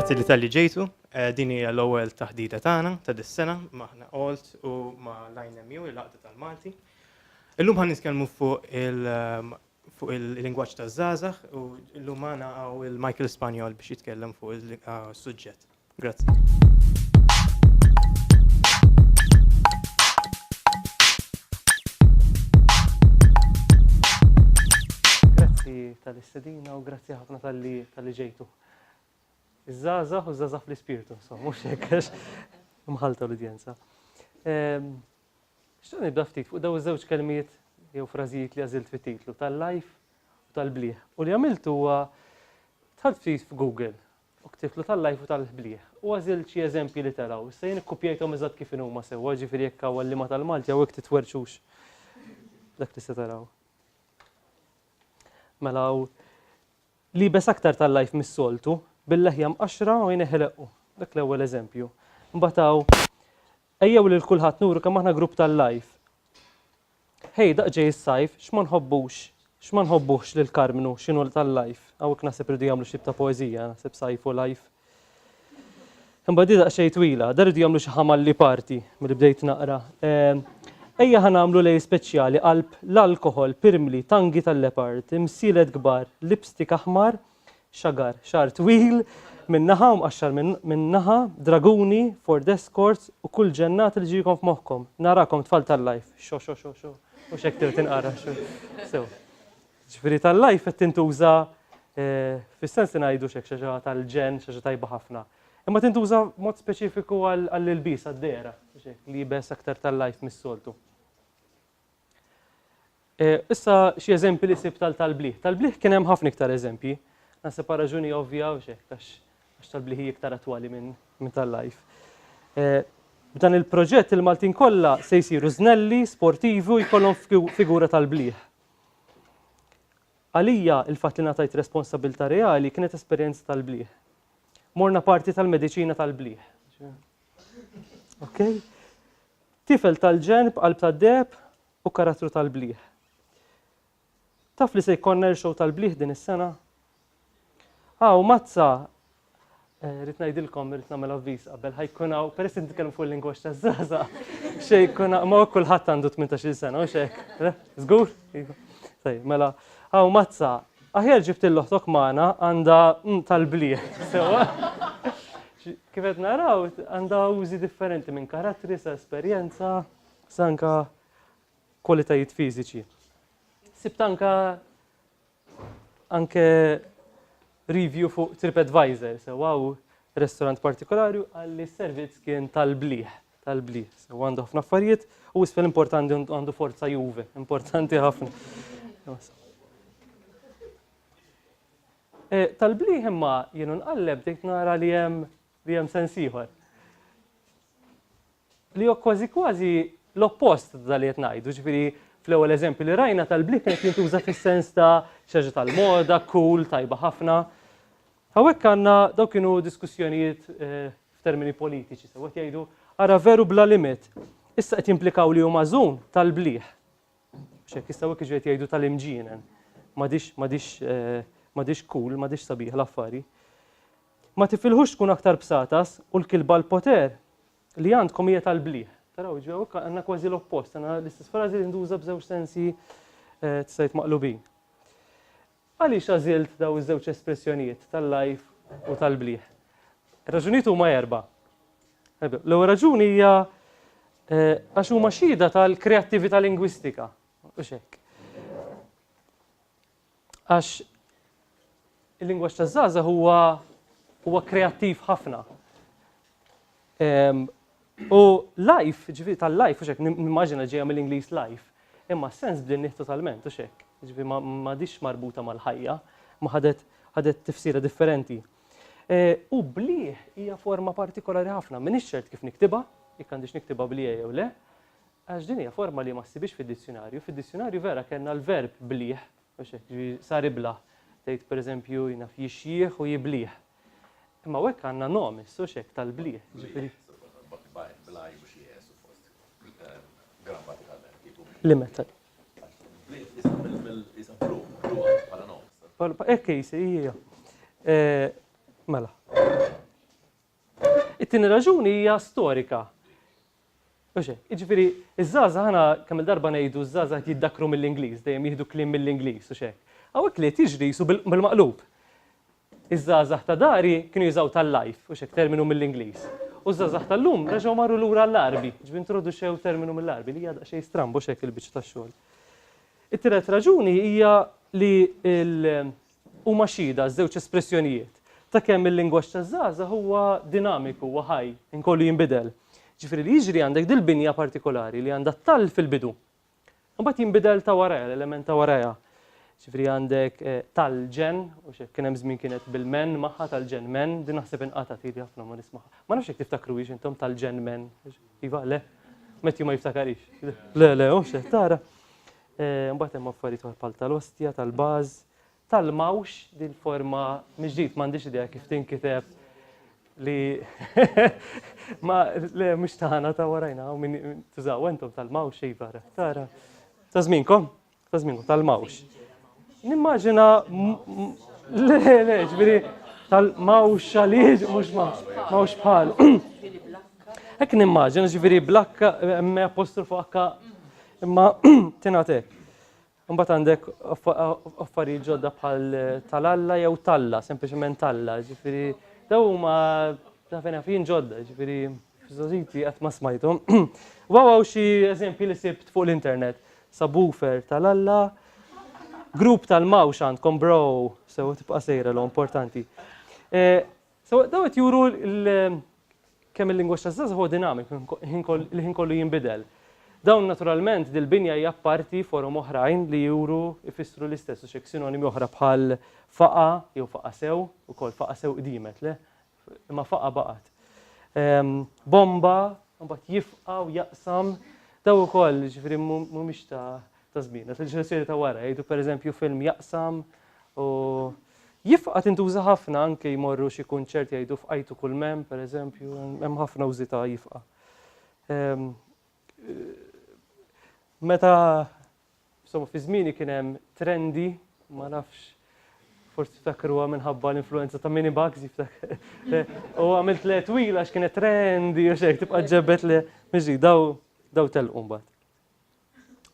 Grazzi li tal-li ġejtu, eh, din hija l-ewwel taħdita tagħna ta' dis-sena maħna Alt u ma' Line MU il-Laqda tal-Malti. Illum ħan nitkellmu fuq il- ehm, fuq il-lingwaġġ taż-żgħażagħ u llum magħna hawn il-Michael Spanjol biex jitkellem fuq is-suġġett. Grazzi. Grazzi tal-istedina u grazzi ħafna tal-li tal-li ġejtu. Iż-żaza u żaza fl-ispirtu, so, mux jekkax mħalta l-udjenza. Ehm, Xtaqt nibda ftit fuq dawn iż-żewġ kelmiet jew frażijiet li għażilt fit-titlu, tal-lajf u tal-blieh. U li għamilt huwa dħalt ftit f'Google u ktibtlu tal-lajf u tal-blieh u għażilt xi eżempji li telgħu. Issa jien ikkupjajthom eżatt kif inhuma sewwa, jiġifieri jekk hawn għalliema tal-Malti hawnhekk titwerrxux dak li se taraw. Mela hawn liebes aktar tal-lajf mis-soltu, bil-leħja mqaxxra u għajnejh ileqqu. Dak l-ewwel eżempju. Imbagħad hawn Ejjew lil kulħadd nuru kemm aħna grupp tal-life. Ħej, daqq ġej is-sajf, x'ma nħobbux, x'ma nħobbuhx lil Karmnu, x'inhu tal-life. Hawnhekk naħseb irridu jagħmlu xi tip ta' poeżija, naħseb sajf u life. Imbagħad hi daqsxejn twila, dan irridu jagħmlu xi ħamalli parti milli bdejt naqra. Ejja ħa nagħmlu lejl speċjali qalb l-alkoħol, pirmli, tangi tal-leopard, imsielet kbar, lipstick aħmar xagar, xagħar twil minn naħa u mqaxxar minn naħa, draguni, Ford Escorts u kull ġennat li ġiekom f'moħħkom. Narakom tfal tal-life. Xo xo xo xo. U xek tirti nqara. Sew. Ġifieri tal-life qed tintuża eh, fis-sens li ngħidu xek xi tal-ġen, xi tajba ħafna. Imma tintuża mod speċifiku għall-ilbis għad-dera, libes aktar tal-life mis-soltu. E, issa xi eżempji li sib tal-talbliħ. Talbliħ kien hemm ħafna iktar eżempji. Nasib pa' raġuni ovvja u xek, għax talbliħi iktar attwali minn min tal-life. E, b'dan il-proġett il-Maltin kollha se jsiru znelli, sportivi u jkollhom figura tal-bliħ. Għalija il-fatt li natajt responsabilta reali kienet esperjenza tal-bliħ. Morna parti tal-mediċina tal-bliħ. Okay? Tifel tal-ġenb, qalb tad-deb u karattru tal-bliħ. Taf li se jkollna irxow tal-bliħ din is-sena? Aw, ah, mazza, eh, rrit ngħidilkom rrit nagħmel avviż qabel ħajkun hawn peress li nitkellem fuq il-lingwaġġ taż-żaża. Xejn jkun ma kulħadd għandu 18-il sena u xek. Żgur? Iva. Sej, mela, aw ah, mazza, Aħjar ġibt lil oħtok magħna għandha mm tal-blieh sewwa. Kif qed naraw għandha użi differenti minn karattri sa esperjenza sa anke kwalitajiet fiżiċi. Sibt anke anke review fuq TripAdvisor sewwa u restorant partikolari qal li s-servizz kien tal-blieh. tal-bli. So għandu ħafna affarijiet u isfel importanti għandu forza juve, importanti ħafna. E, tal-bli imma jenu nqalleb dejt nara li jem li jem sensiħor. Li jo kważi kważi l-oppost tal-li jtnajdu, ġifiri fl-ewel eżempju li rajna tal-bli kienet jintuża fis-sens ta' xaġa tal-moda, cool, tajba ħafna. Hawnhekk għandna dawn kienu diskussjonijiet f'termini politiċi sew qed jgħidu ara veru bla limit. Issa qed jimplikaw li hu magħżun tal-blieh. Biex hekk jistgħu hekk jiġu qed jgħidu tal-imġienen. M'għadix m'għadix m'għadix cool, m'għadix sabiħ l-affari. Ma tifilħux tkun aktar bsatas u l-kilba l-poter li għandkom hija tal-blieh. Taraw jiġu hawnhekk għandna kważi l-oppost, għandna l-istess frażi li nduża b'żewġ sensi tista' jgħid maqlubin. Għaliex għażilt dawn iż-żewġ espressjonijiet tal-lgħajf u tal-blieh? Ir-raġunijiet huma erbgħa. L-ewwel raġuni hija għax huma xhieda tal-kreattività lingwistika, mhux hekk? Għax il-lingwaġġ taż-żgħażagħ huwa huwa kreattiv ħafna. U life, ġifieri tal-life, u xek, nimmaġina ġejja mill-Ingliż life, imma sens bdin nieħ totalment, u xek, ġifieri ma dix marbuta mal-ħajja, ma ħadet ħadet tifsira differenti. E, u blieh hija forma partikolari ħafna, minn ċert kif niktiba, jekk għandix niktiba blieh jew le, għax din hija forma li ma ssibix fid-dizzjonarju. Fid-dizzjonarju vera kellna l-verb blieh, u xek, sar ibla, tgħid pereżempju jnaf jixjieħ u jiblieh. Imma hawnhekk għandna nom issu x'hekk tal-blieh, ġifieri. Blaj mhux jes u fost grammatikalment kieku. Li meta. Blieh isha mill-isha blu, blu bħala nom. Hekk ejsi, hija. Mela. It-tieni raġuni hija storika. Oxe, iġifieri iż-żgħażagħ ħana kemm il-darba ngħidu ż-żgħażagħ jiddakru mill-Ingliż, dejjem jieħdu kliem mill-Ingliż u x'hekk. Hawnhekk li qed jiġri jisu bil-maqlub. Iż-żgħażagħ ta' dari kienu jużaw tal-life, u x'hekk terminu mill-Ingliż. U ż-żgħażagħ tal-lum reġgħu marru lura għall-Għarbi, ġifieri introduċew terminu mill-Għarbi, li hija daqsxejn stramba, u x'hekk il-biċċa tax-xogħol. It-tielet raġuni hija li l huma xhieda, ż-żewġ espressjonijiet, ta' kemm il-lingwaġġ taż-żgħażagħ huwa dinamiku, huwa ħaj, inkollu jinbidel. Ġifieri li jiġri għandek dil-binja partikolari li għandha t-tall fil-bidu, Imbagħad jinbidel ta' warajha, l-element ta' warajha. Ġifri għandek eh, tal-ġen, u xek kien hemm żmien kienet bil-men magħha tal-ġen men, din naħseb inqata' tili ħafna ma nismaħ. Ma nafx jekk tiftakru hiex intom tal-ġen men. Iva, le. Metti ma jiftakarix. Le, le, u xek tara. Eh, mbagħad hemm affarijiet bħal tal-ostja, tal-baż, Tal-mawx din forma mill-ġdid, m'għandix idea kif tinkiteb li ma le mhux tagħna ta' warajna u min tużaw entom tal-mawx iva tara. Ta' żminkom, ta' żminkom tal-mawx. Nimmaġina le le ġifieri tal-mawx għaliex mhux mawx bħal. Hekk nimmaġina ġifieri blakka me apostrofu akka imma tingħatek. Imbagħad għandek affarijiet ġodda bħal tal-Alla jew talla, sempliċement talla, ġifieri daw huma ta' fejn jien ġodda, ġifieri f'żożiti qatt ma smajthom. Waw hawn xi eżempji li sibt fuq l-internet. Subwoofer tal-Alla, grupp tal-mawx għandkom bro, sew tibqa' sejra l importanti. Sewwa dawn qed juru kemm il-lingwaġġ taż-żgħażagħ huwa dinamik, il-ħin kollu jinbidel. Dawn naturalment dil-binja hija apparti forom oħrajn li juru, ifissru l-istess u xi hekk sinonimi oħra bħal faqa' jew faqa' sew, ukoll faqa' sew qdiemet, le? Imma faqa' baqgħet. Bomba, imbagħad jifqa' u jaqsam, dawn ukoll jiġifieri mhumiex ta' ta' żmien. Għax il-ġenerazzjoni ta' wara jgħidu pereżempju film jaqsam u jifqa' tintuża ħafna anke jmorru xi kunċert jgħidu fqajtu kull mem, pereżempju, hemm ħafna użi ta' jifqa'. Ehm, meta insomma fi żmieni kien hemm trendi, ma nafx forsi ftakruha minħabba l-influenza ta' mini bugs jiftakar. U għamilt le twila għax kienet trendi u xejk tibqa' ġebet le miġi daw daw telqu mbagħad.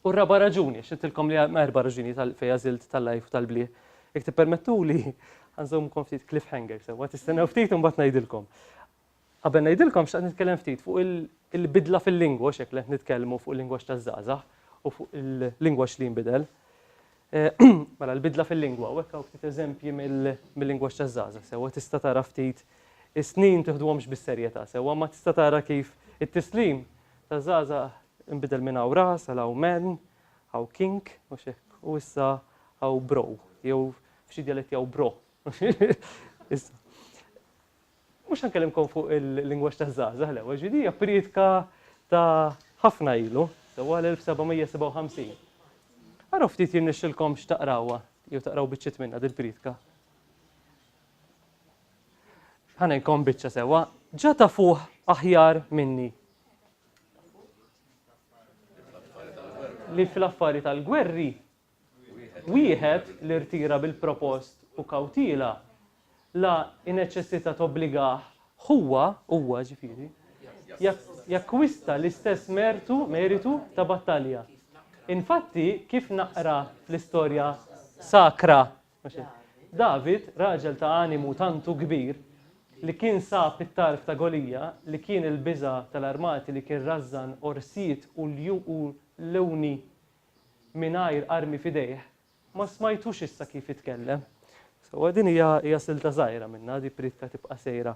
U r-raba' raġuni, għax għedtilkom li hemm erba' raġunijiet għal fejn għażilt tal-lajf u tal-bliet. Jekk tippermettuli, ħa nżommkom ftit cliffhanger sewwa, tistennew ftit u mbagħad ngħidilkom. Qabel ngħidilkom xtaqt nitkellem ftit fuq il-bidla fil-lingwa, u x'hekk li qed nitkellmu fuq il-lingwaġġ taż-żgħażagħ u fuq il-lingwaġġ li jinbidel. Mela l-bidla fil-lingwa, u hekk hawn ftit eżempji mill-lingwaġġ taż-żgħażagħ sewwa tista' tara ftit is-snin tiħduhomx bis-serjetà sewwa, imma tista' tara kif it-tislim taż-żgħażagħ Inbidel minn hawn ras għal hawn man, hawn king, mhux hekk? U issa hawn bro, jew f'xi djaletti hawn bro. Issa. Mhux ħankellimkom fuq il-lingwaġġ taż-żgħażagħ l-ewwel, ġifieri hija priedka ta' ħafna ilu, sewwa l-1757. Araw ftit jirnexxilkomx taqrawha jew taqraw biċċiet minnha dil-priedka. Ħa ngħidkom biċċa sewwa, ġa tafuh aħjar minni. li fl-affari tal-gwerri wieħed li rtira bil-propost u kawtila la ineċessita tobbligah huwa, huwa ġifieri, jakkwista l-istess mertu, meritu ta' battalja. Infatti, kif naqra fl-istorja sakra David, raġel ta' animu tantu kbir, li kien sab it-tarf ta' Golija, li kien il-biża' tal-armati li kien rażżan orsijiet u ljuni mingħajr armi f'idejh, ma smajtux issa kif jitkellem. Sewwa din hija silta żgħira minnha, di priedka tibqa' sejra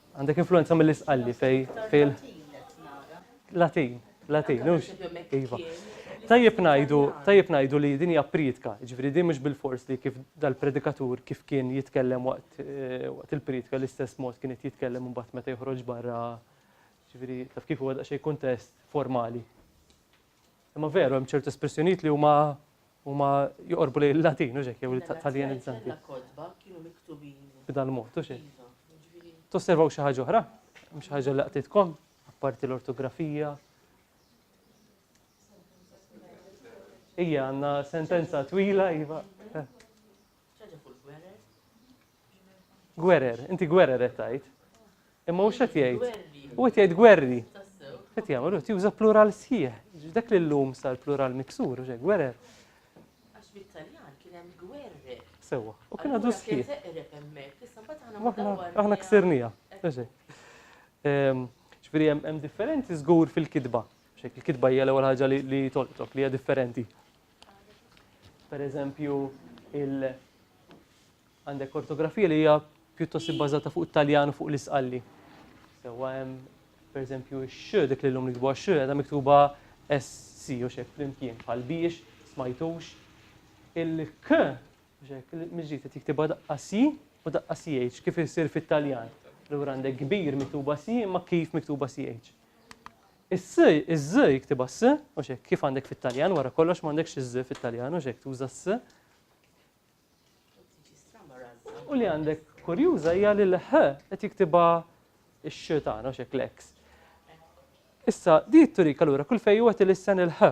Għandek influenza mill-isqalli fej fil. Latin, Latin, ux. Iva. Tajjeb najdu, tajjeb najdu li din hija pritka, ġifieri din mhux bil-fors li kif dal-predikatur kif kien jitkellem waqt eh, waqt il-pritka l-istess mod kien qed jitkellem imbagħad meta joħroġ barra ġifieri taf kif huwa daqsxejn kuntest formali. Imma veru hemm ċertu espressjonijiet li huma Huma joqorbu lejn il-Latin, u xek, jew l-Italjanizzanti. L-Azzjoni tal-kotba kienu miktubin. B'dan mod, u xek. Tosservaw xi ħaġa oħra? Mhux ħaġa li qtitkom, apparti l-ortografija. Ija, għanna sentenza twila, iva. X'ħaġa fuq il-gwerer? Gwerer, inti gwerer qed tgħid. Imma mhux qed jgħid. U qed jgħid gwerri. Qed jagħmel qed juża plural sħiħ. Dak li llum sar plural miksur, u gwerer. Għax bit-Taljan kien hemm gwerri. Sewwa, u kien għadu sħiħ. Aħna ksirnija. Ehm, ġifieri hemm differenzi żgur fil-kitba. Il-kitba hija l-ewwel ħaġa li tolqtok li hija differenti. Per eżempju, il għandek ortografija li hija pjuttost ibbażata fuq it-Taljan u fuq l-isqalli. Sewwa hemm per eżempju x dik li llum nikbu għax qiegħda miktuba SC u xek flimkien bħal biex, smajtux. Il-K miġġiet qed jiktibha daqqa C u daqqa CH kif isir fit-Taljan. Lura għandek kbir miktuba C imma kif miktuba CH. Is-s, iz, jiktibha s, mhux hekk, kif għandek fit-Taljan, wara kollox m'għandekx iz fit-Taljan, mhux hekk, tuża s. U li għandek kurjuża hija li l-h qed jiktibha x-x tagħna, mhux hekk l-x. Issa, di turik allura kull fejn huwa tilisten il-h,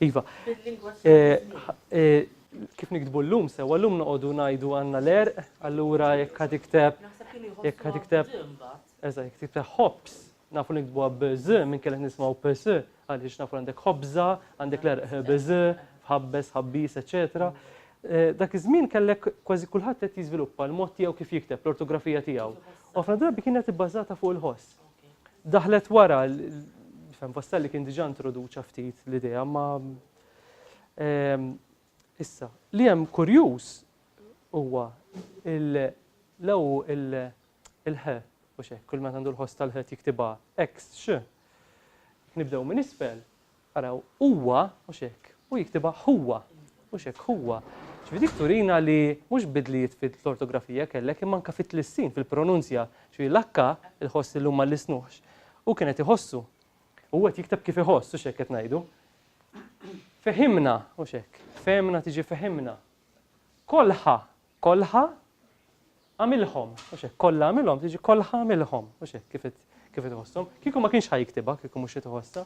Iva. Bil-lingwa tal-Maltin. Kif niktbu llum sewwa, llum noqogħdu ngħidu għandna l-għerq, allura jekk ħa tikteb jekk ħa tikteb eżatt, jekk tikteb ħobż, nafu li niktbuha b'ż, minkejja li nismgħu bs, għaliex nafu għandek ħobża, għandek l-għerq bż, f'ħabbes, ħabbiż, eċċetera. Dak iż-żmien kellek kważi kulħadd qed jiżviluppa l-mod tiegħu kif jikteb, l-ortografija tiegħu. U ħafna drabi kienet ibbażata fuq il-ħoss. daħlet wara nifhem Vastelli kien diġà introduċa ftit l-idea ma ehm, issa li hemm kurjuż huwa l-ew il-ħe u xek, kull ma għandu l-ħoss tal-ħet jiktibha x, nibdew minn isfel, Araw, huwa, mhux hekk, hu jiktibha ħuwa, mhux hekk, ħuwa. Ġifieri dik turina li mhux bidlijiet fil-ortografija kellek imma anke fit-tlissin, fil-pronunzja. Ġifieri l-akka, il-ħoss illum ma llisnuhx, hu kien qed iħossu. U hu qed jikteb kif iħoss, hux hekk qed ngħidu. Fehimna, mhux hekk, fehmna tiġi fehimna. Kolħa, kolħa, Għamilhom, mhux hekk, kollha għamilhom, tiġi kollha għamilhom, mhux hekk, kif qed kif qed iħosshom. Kieku ma kienx ħa jiktibha, kieku mhux qed iħossha.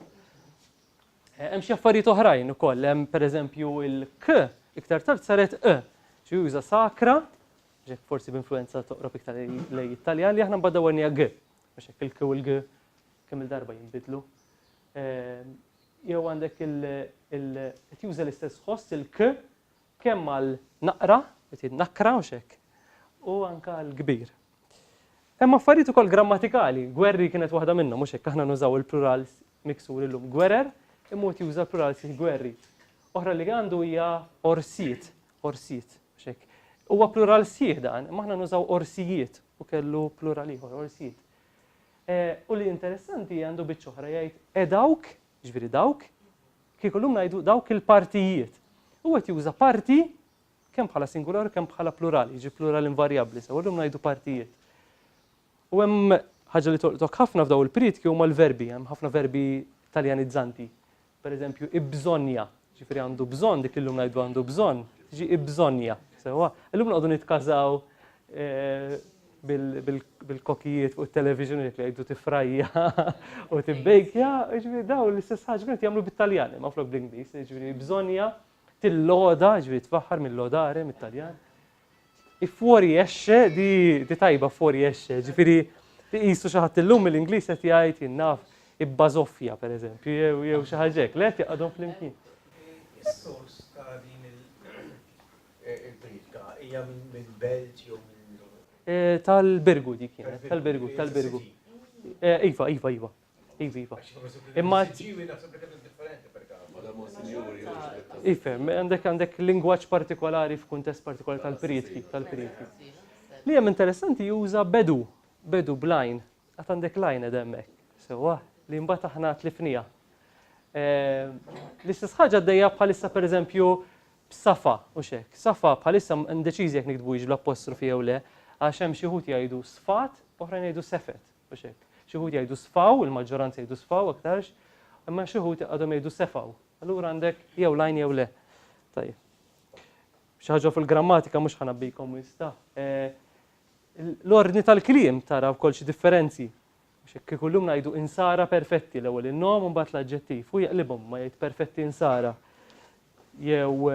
Eh, hemm xi affarijiet oħrajn ukoll, hemm pereżempju il-k iktar tard saret e, xi juża sakra, ġek forsi b'influenza toqrob iktar lej Italja li aħna mbagħad dawwernija g, mhux hekk il-k u l-g kemm il-darba jinbidlu. Eh, jew għandek il-qed juża l-istess ħoss il-k Kemm għal naqra, ġifieri nakra mhux hekk, u anke għal kbir. Hemm affarijiet ukoll grammatikali, gwerri kienet waħda minnhom, mhux hekk, aħna nużaw il-plurals miksur illum, gwerer, imma wieħed juża l-plurals il-gwerri. Oħra li għandu hija orsijiet, orsijiet, mhux hekk. Huwa plural sħiħ dan, imma aħna nużaw orsijiet u kellu plural ieħor, orsijiet. U li interessanti għandu biċċa oħra jgħid edawk Jiġifieri dawk, kieku llum ngħidu dawk il-partijiet. U qed juża parti kemm bħala singular u kemm bħala plural, jiġi plural invarjabbli, sewa llum ngħidu partijiet. U hemm ħaġa li tolqtok ħafna f'daw il-prietki huma l-verbi, hemm ħafna verbi taljanizzanti. Per eżempju, ibżonja, Ġifieri għandu bżonn, dik li llum ngħidu għandu bżonn, tiġi ibbżonnja. Sewwa? Illum noqogħdu nitkażaw bil-kokijiet fuq it-television li jgħidu tifrajja u tibbejkja, ġifieri dawn l-istess ħaġa kienu jagħmlu bit-Taljan, imma flok bl-Ingliż, ġifieri bżonnja tilloda, ġifieri tfaħħar mill-lodare mit-Taljan. Fuori esce di di tajba fuori esce, jiġifieri iqisu xi ħadd illum mill-Ingliż qed jgħid jien naf ibbażoffja pereżempju jew jew xi ħaġa hekk, le qed jaqgħadhom flimkien. Is-sors ta' din il-priedka hija minn belt jew minn Tal-Birgu dik kienet, tal-Birgu, tal-Birgu. Iva, iva, iva. Iva, iva. Imma. Ġiwi naħseb li kienet differenti per Ifem, għandek għandek lingwaġġ partikolari f'kuntest partikolari tal-prietki, tal-prietki. Li hemm interessanti juża bedu, bedu blajn, għat għandek lajn edemmek, sewa, li mbagħad aħna tlifnija. Eh, l-istess ħaġa għaddejja bħalissa per eżempju b'safa u xek. Safa bħalissa ndeċiżi jekk nikdbu bl-apostrofi jew le, għax hemm xi ħut jgħidu sfat, oħrajn jgħidu sefet. Mhux hekk. Xi wħud jgħidu sfaw, il-maġġoranza jgħidu sfaw aktarx, imma xi wħud għadhom jgħidu sefaw. Allura għandek jew l-għajn jew le. Tajjeb. Xi ħaġa fil-grammatika mhux ħa nabbikom wis ta. L-ordni tal-kliem tara wkoll xi differenzi. Mhux hekk kieku llum ngħidu insara perfetti l-ewwel in-nom u mbagħad l-aġġettiv. Hu jaqlibhom ma jgħid perfetti insara. jew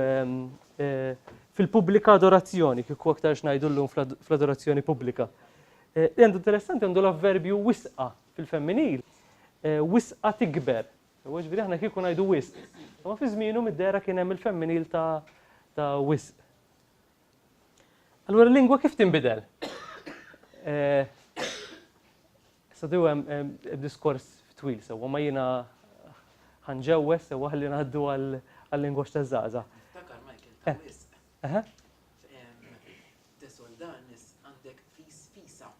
fil-pubblika adorazzjoni, kieku aktar xnajdu l-lum fl-adorazzjoni pubblika. Eh, li għandu interessanti għandu l-avverbju wisqa fil-femminil, eh, wisqa tikber. U ġviri aħna kieku najdu wisq. Ma fi zminu mid-dera kien hemm il-femminil ta' ta' wisq. Allura l-lingwa kif tinbidel? Eh, Statu hemm diskors twil sewwa, imma jiena ħa nġewweż sewwa ħalli ngħaddu għal-lingwaġġ taż-żgħażagħ. Niftakar Michael ta' wisq. Eħe. Tesol dan is għandek fis fisa.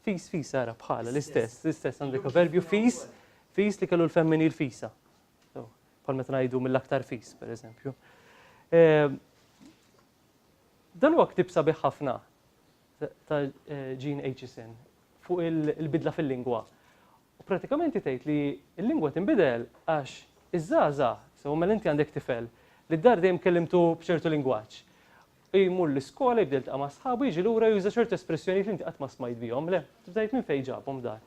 Fis fisa ara bħala l-istess, l-istess għandek verbju fis, fis li kellu l-femminil fisa. Bħal meta ngħidu mill-aktar fis, pereżempju. Dan huwa ktib sabiħ ħafna. ta' Jean Aitchison fuq il-bidla fil-lingwa. U pratikament hi tgħid li l-lingwa tinbidel għax iż-żgħażagħ, sewa mela inti għandek tifel li d-dar dejjem kellimtu b'ċertu lingwaġġ, u jmur l-iskola, jibda jiltaqa' ma' sħabu, jiġi lura juża ċertu espressjonijiet li inti qatt ma smajt bihom, le, tibda tgħid minn fejn ġabhom dar.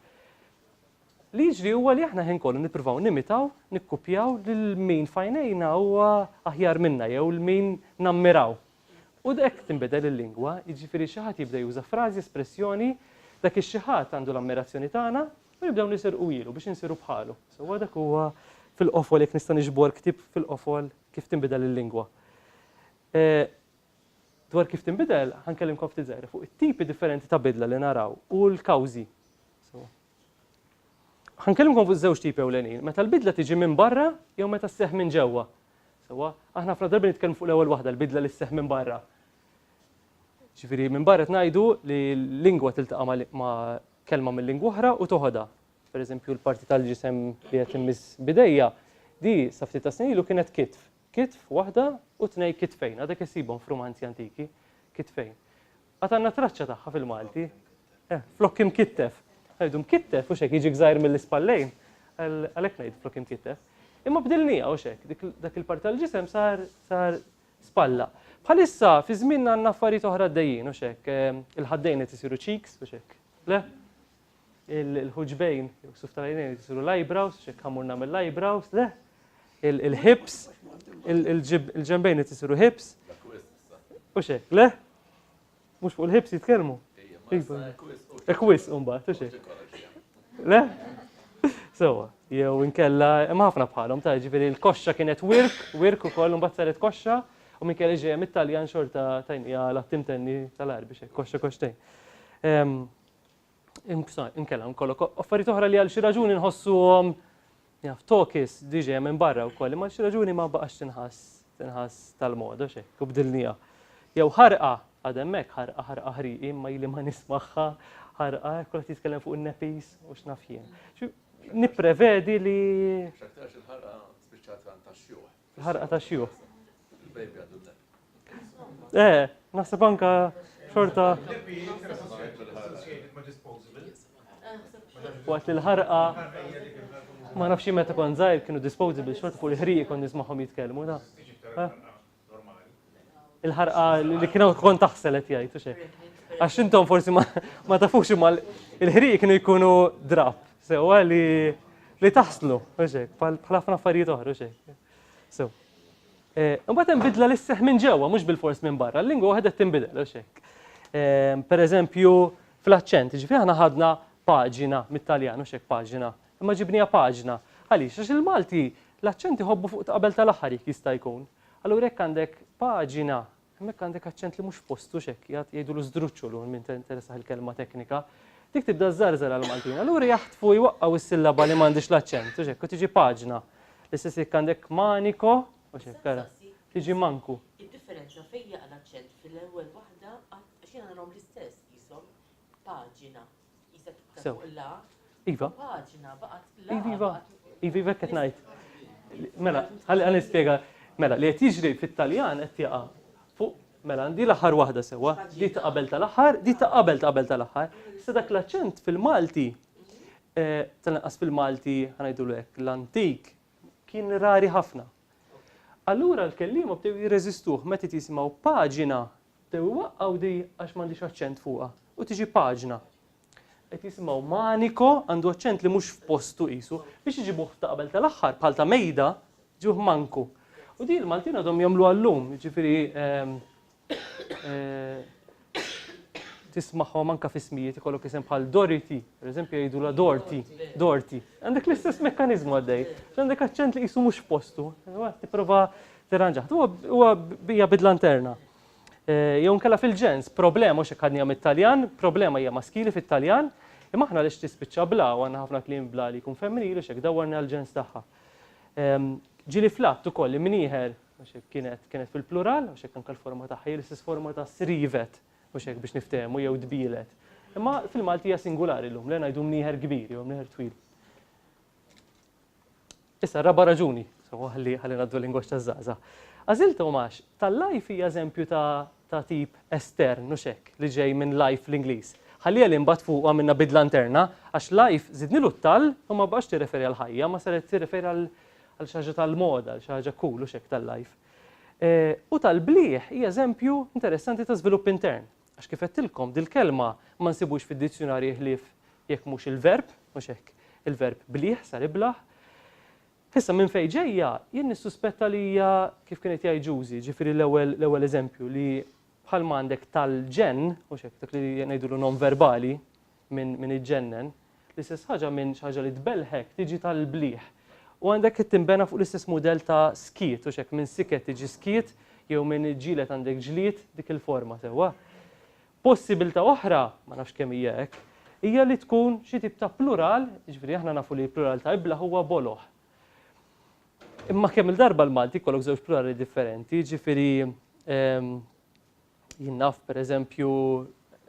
Li jiġri huwa li aħna ħin kollu nippruvaw nimitaw, nikkupjaw lil min f'għajnejna huwa aħjar minna jew lil min nammiraw. U hekk tinbidel il-lingwa, jiġifieri xi ħadd jibda juża frażi, espressjoni, dak ix-xi ħadd għandu l-ammirazzjoni tagħna u nibdew nisirquhielu biex insiru bħalu. Sewwa dak huwa fil-qofol jekk nista' niġbor ktieb fil-qofol kif tinbidel il-lingwa. Dwar kif tinbidel ħa nkellimkom ftit żgħira fuq it-tipi differenti ta' bidla li naraw u l-kawżi. Sewwa. Ħa nkellimkom fuq żewġ tipi ewlenin, meta l-bidla tiġi minn barra jew meta sseħħ minn ġewwa. Sewwa, aħna ħafna drabi nitkellmu fuq l-ewwel waħda, l-bidla li sseħħ minn barra. Ġifieri minn barra qed ngħidu li lingwa tiltaqa' ma' kelma minn lingwa oħra u toħodha. Pereżempju l-parti tal-ġisem li qed immiss bidejja, di sa ftit ta' snin ilu kienet kitf. Kitf waħda u tnej kitfejn, għadek issibhom f'rumanzi antiki, kitfejn. Għad għandna traċċa tagħha fil-Malti. Eh, flokk imkittef. Ngħidu mkittef u xek jiġik żgħir mill-ispallejn. Għalhekk ngħid flokk imkittef. Imma bdilnija u xek, dak il-parti tal-ġisem sar sar spalla. Bħalissa fi żmien għandna affarijiet oħra għaddejjin u xek, eh, il-ħaddejn qed isiru cheeks u xek. Le? Il-ħuġbejn, suf tal-għajnejn jisiru l-eyebrows, xek ħamurna mill-eyebrows, le? Il-hips, il-ġembejn jisiru hips. U xek, le? Mux fuq il-hips jitkelmu? Ekwis, umba, tu xek. Le? Sewa, jew inkella, imma ħafna bħalhom ta' ġifieri l-koxxa kienet wirk, wirk ukoll imbagħad saret koxxa, u minn kelli ġejja mit-Taljan xorta tajnija l-attim tenni tal-arbi xejn, koxxa koxtejn. Ehm, Inkella nkollok affarijiet oħra li għal xi raġuni nħossuhom jaf tokis diġej minn barra wkoll, imma xi raġuni ma baqax tinħass tinħass tal-moda xejn, u bdilniha. Jew ħarqa għad hemmhekk ħarqa ħarqa ħriqi imma ili ma nismagħha ħarqa kull qed jitkellem fuq in-nepis u x'naf jien. Nipprevedi li. X'aktarx il-ħarqa spiċċat għand tax-xjuħ. Ħarqa ta' xjuħ. Il-bejbi għadu l Eh, naħseb anka xorta. Waqt li l-ħarqa ma nafx meta kon żgħir kienu disposable xorta fuq il-ħrieq kon nismagħhom jitkellmu da. Il-ħarqa li kienu kont taħsel qed jgħid u xejn. Għax intom forsi ma tafux imma il-ħriq kienu jkunu drab, sewwa li li taħslu, u xejn, bħal ħafna affarijiet oħra u xejn. So. Eh, imbagħad hemm bidla li sseħħ minn ġewwa, mhux bil-fors minn barra, l-lingwa waħda tinbidel, u xejn. Eh, per eżempju, fl-aċċent, ġifieri aħna ħadna paġina mit-Taljan, u xejn paġina, imma ġibnija paġna. Għaliex, għax il-Malti l-aċċenti ħobbu fuq qabel tal-aħħar jista' jkun. Allura jekk għandek paġina, hemmhekk għandek aċċent li mhux f'postu, x'hekk jgħad, jgħidulu żdruċċulu għal min tinteressah il-kelma teknika. Dik tibda żżarżar għall-Maltin. Allura jaħtfu, jwaqqgħu s-sillaba li m'għandhiex l-aċċent, u x'hekk, u tiġi paġna. L-istess jekk għandek maniko, u x'hekk, ara, tiġi manku. Id-differenza fejn jaqa' l-aċċent fil-ewwel waħda għax jiena narahom l-istess, qishom paġina. Iva. Iva, iva. Iva, iva, qed ngħid. Mela, ħalli nispjega. Mela, li qed jiġri fit-Taljan qed jaqa' fuq Mela, di l-aħħar waħda sewa, di ta' qabel tal-aħħar, di ta' qabel ta' qabel tal-aħħar. Sa dak l-aċċent fil-Malti, eh, tal-inqas fil-Malti, ħanajdu l-ek, l-antik, kien rari ħafna. Allura l-kellima bdew jirreżistuh meta jisimgħu paġina Bdew iwaqqgħu di għax m'għandhiex aċċent fuqha u tiġi paġna. Qed jisimgħu manico, għandu aċċent li mhux f'postu qisu. Biex iġibuh ta' qabel tal-aħħar, bħal ta' mejda, ġibuh manku. U di l-Maltin għadhom jagħmluha llum, jiġifieri ehm, eh, tismagħhom anke f'ismijiet ikollok isem bħal Doriti, pereżempju jgħidulha Dorti, Dorti. Għandek l-istess mekkaniżmu għaddej, għandek aċċent li qisu mhux f'postu. Tipprova Tirranġat. Huwa hija bidla interna. Jew nkella fil-ġens, problema mhux hekk għadnija mit-Taljan, problema hija maskili fit-Taljan, imma aħna lix tispiċċa bla u għandna ħafna kliem bla li jkun femminili u x'hekk dawwarni għall-ġens tagħha. Ġieli fl-att ukoll imnieħer għax hekk kienet kienet fil-plural għax hekk anke l-forma tagħha hi l-istess forma ta' srivet mhux hekk biex niftehmu jew dbielet. Imma fil-Malti hija singulari llum le ngħidu mnieħer kbir jew mnieħer twil. Issa raba' raġuni, sewwa ħalli ħalli ngħaddu l-lingwaġġ taż-żgħażagħ. Għażilthom għax tal-life hija eżempju ta' ta' tip estern, mhux hekk, li ġej minn life fl-Ingliż. Ħalliha li mbagħad fuqu għamilna bidla interna, għax life żidnilu t-tal u ma baqgħetx tirreferi għal ħajja, ma saret tirreferi għal għal xi ħaġa tal-moda, għal xi ħaġa cool, mhux hekk tal-life. U tal-blieh hija eżempju interessanti ta' żvilupp intern. Għax kif għedtilkom, dil-kelma ma nsibux fid-dizzjunarji ħlief jekk mhux il-verb, mhux hekk, il-verb blieh, sar iblah. Issa, minn fejn ġejja, jien nissuspetta li hija kif kienet jgħid Ġużi, ġifieri l-ewwel l-ewwel eżempju li bħalma għandek tal-ġenn, mhux hekk, dak li ngħidulu nonverbali, minn minn iġġennen, l-istess ħaġa minn xi ħaġa li tbellħek tiġi tal-blieh. U għandek qed tinbena fuq l-istess mudell ta' skiet, hux hekk, minn siket tiġi skiet, jew minn iġġieled għandek ġlied, dik il-forma sewwa. Possibilità oħra, ma nafx kemm hija hekk, hija li tkun xi tip ta' plural, jiġifieri aħna nafu li l-plural ta' iblah huwa boloh. Imma kemm-il darba l-Malti jkollok żewġ plurali differenti, jiġifieri Jien naf, per eżempju,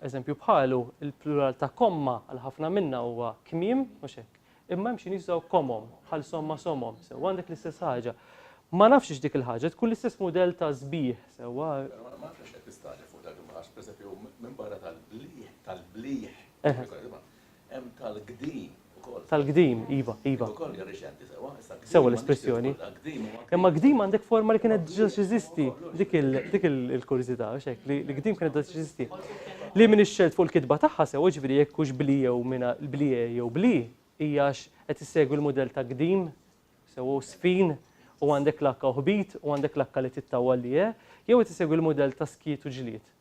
eżempju bħalu, il-plural ta' komma għal ħafna minna huwa kmiem, mhux hekk? Imma hemm xi nies jużaw komom, bħal somma somom, sewwa għandek l-istess ħaġa. Ma nafx hix dik il-ħaġa tkun l-istess mudell ta' sbieħ, sewwa. Ma nafx għax qed tistagħġel fuq dak imma għax, per eżempju, minbarra tal-bliħ, tal-bliħ, Hemm tal-qdim ukoll. Tal-qdim, iva, iva. Ukoll hija riċenti sewwa. Sewwa l-espressjoni. Imma qdim għandek forma li kienet ġiġa xiżisti. Dik il-kurżità, għax hekk, li qdim kienet ġiġa xiżisti. Li minn ix-xelt fuq il-kitba tagħha sewwa ġifieri jekk hux bli jew minn bli jew bli, hija għax qed issegwi l-mudell ta' qdim, sewwa u sfin, u għandek l-H u ħbit, u għandek l-H li tittawwal li e, jew qed issegwi l-mudell ta' skiet u ġlied.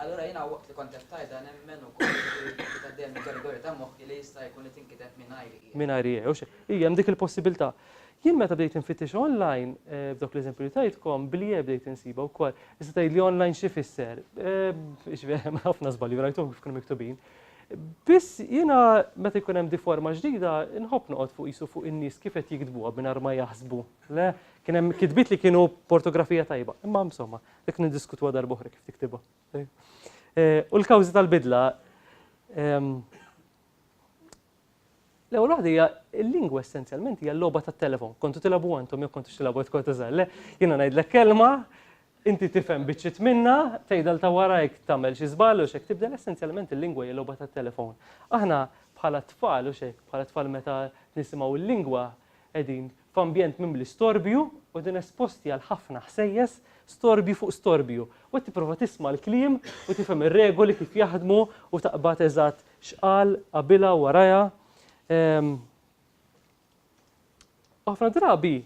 Allura jiena waqt li kont qed tgħidha nemmen ukoll li kienet għaddejja mill-gorigory ta' moħħi li jista' jkun li tinkiteb mingħajri hija. Mingħajr hija, u xi. Hija, hemm dik il-possibilità. Jien meta bdejt infittix online, b'dawk l-eżempji li tajtkom, bl-ie bdejt insibha wkoll. Issa tgħidli online xi jfisser? Jiġifieri hemm ħafna żbalji li rajthom kif kienu miktubin. Biss jiena meta jkun hemm di forma ġdida nħobb noqgħod fuq qisu fuq in-nies kif qed jiktbuha mingħajr ma jaħsbu. Le, kien hemm kitbiet li kienu b'ortografija tajba. Imma insomma, Dik niddiskutuha darba oħra kif tiktibha. U l-kawżi tal-bidla ehm, L-ewwel waħda hija l-lingwa essenzjalment hija l-logħba tat-telefon. Kontu tilgħabu antom jew kontu tilgħabu tkun tiżgħal. Jiena ngħidlek kelma, inti tifhem biċċit minna, tgħidal ta' warajk tagħmel xi żball u xek tibdel essenzjalment il-lingwa hija logħba tat-telefon. Aħna bħala tfal u xek, bħala tfal meta nisimgħu l-lingwa qegħdin f'ambjent mimli storbju u din esposti għal ħafna ħsejjes, storbju fuq storbju, u qed tipprova tisma' l-kliem u tifhem ir-regoli kif jaħdmu u taqbad eżatt x'qal qabilha u warajha. U ħafna drabi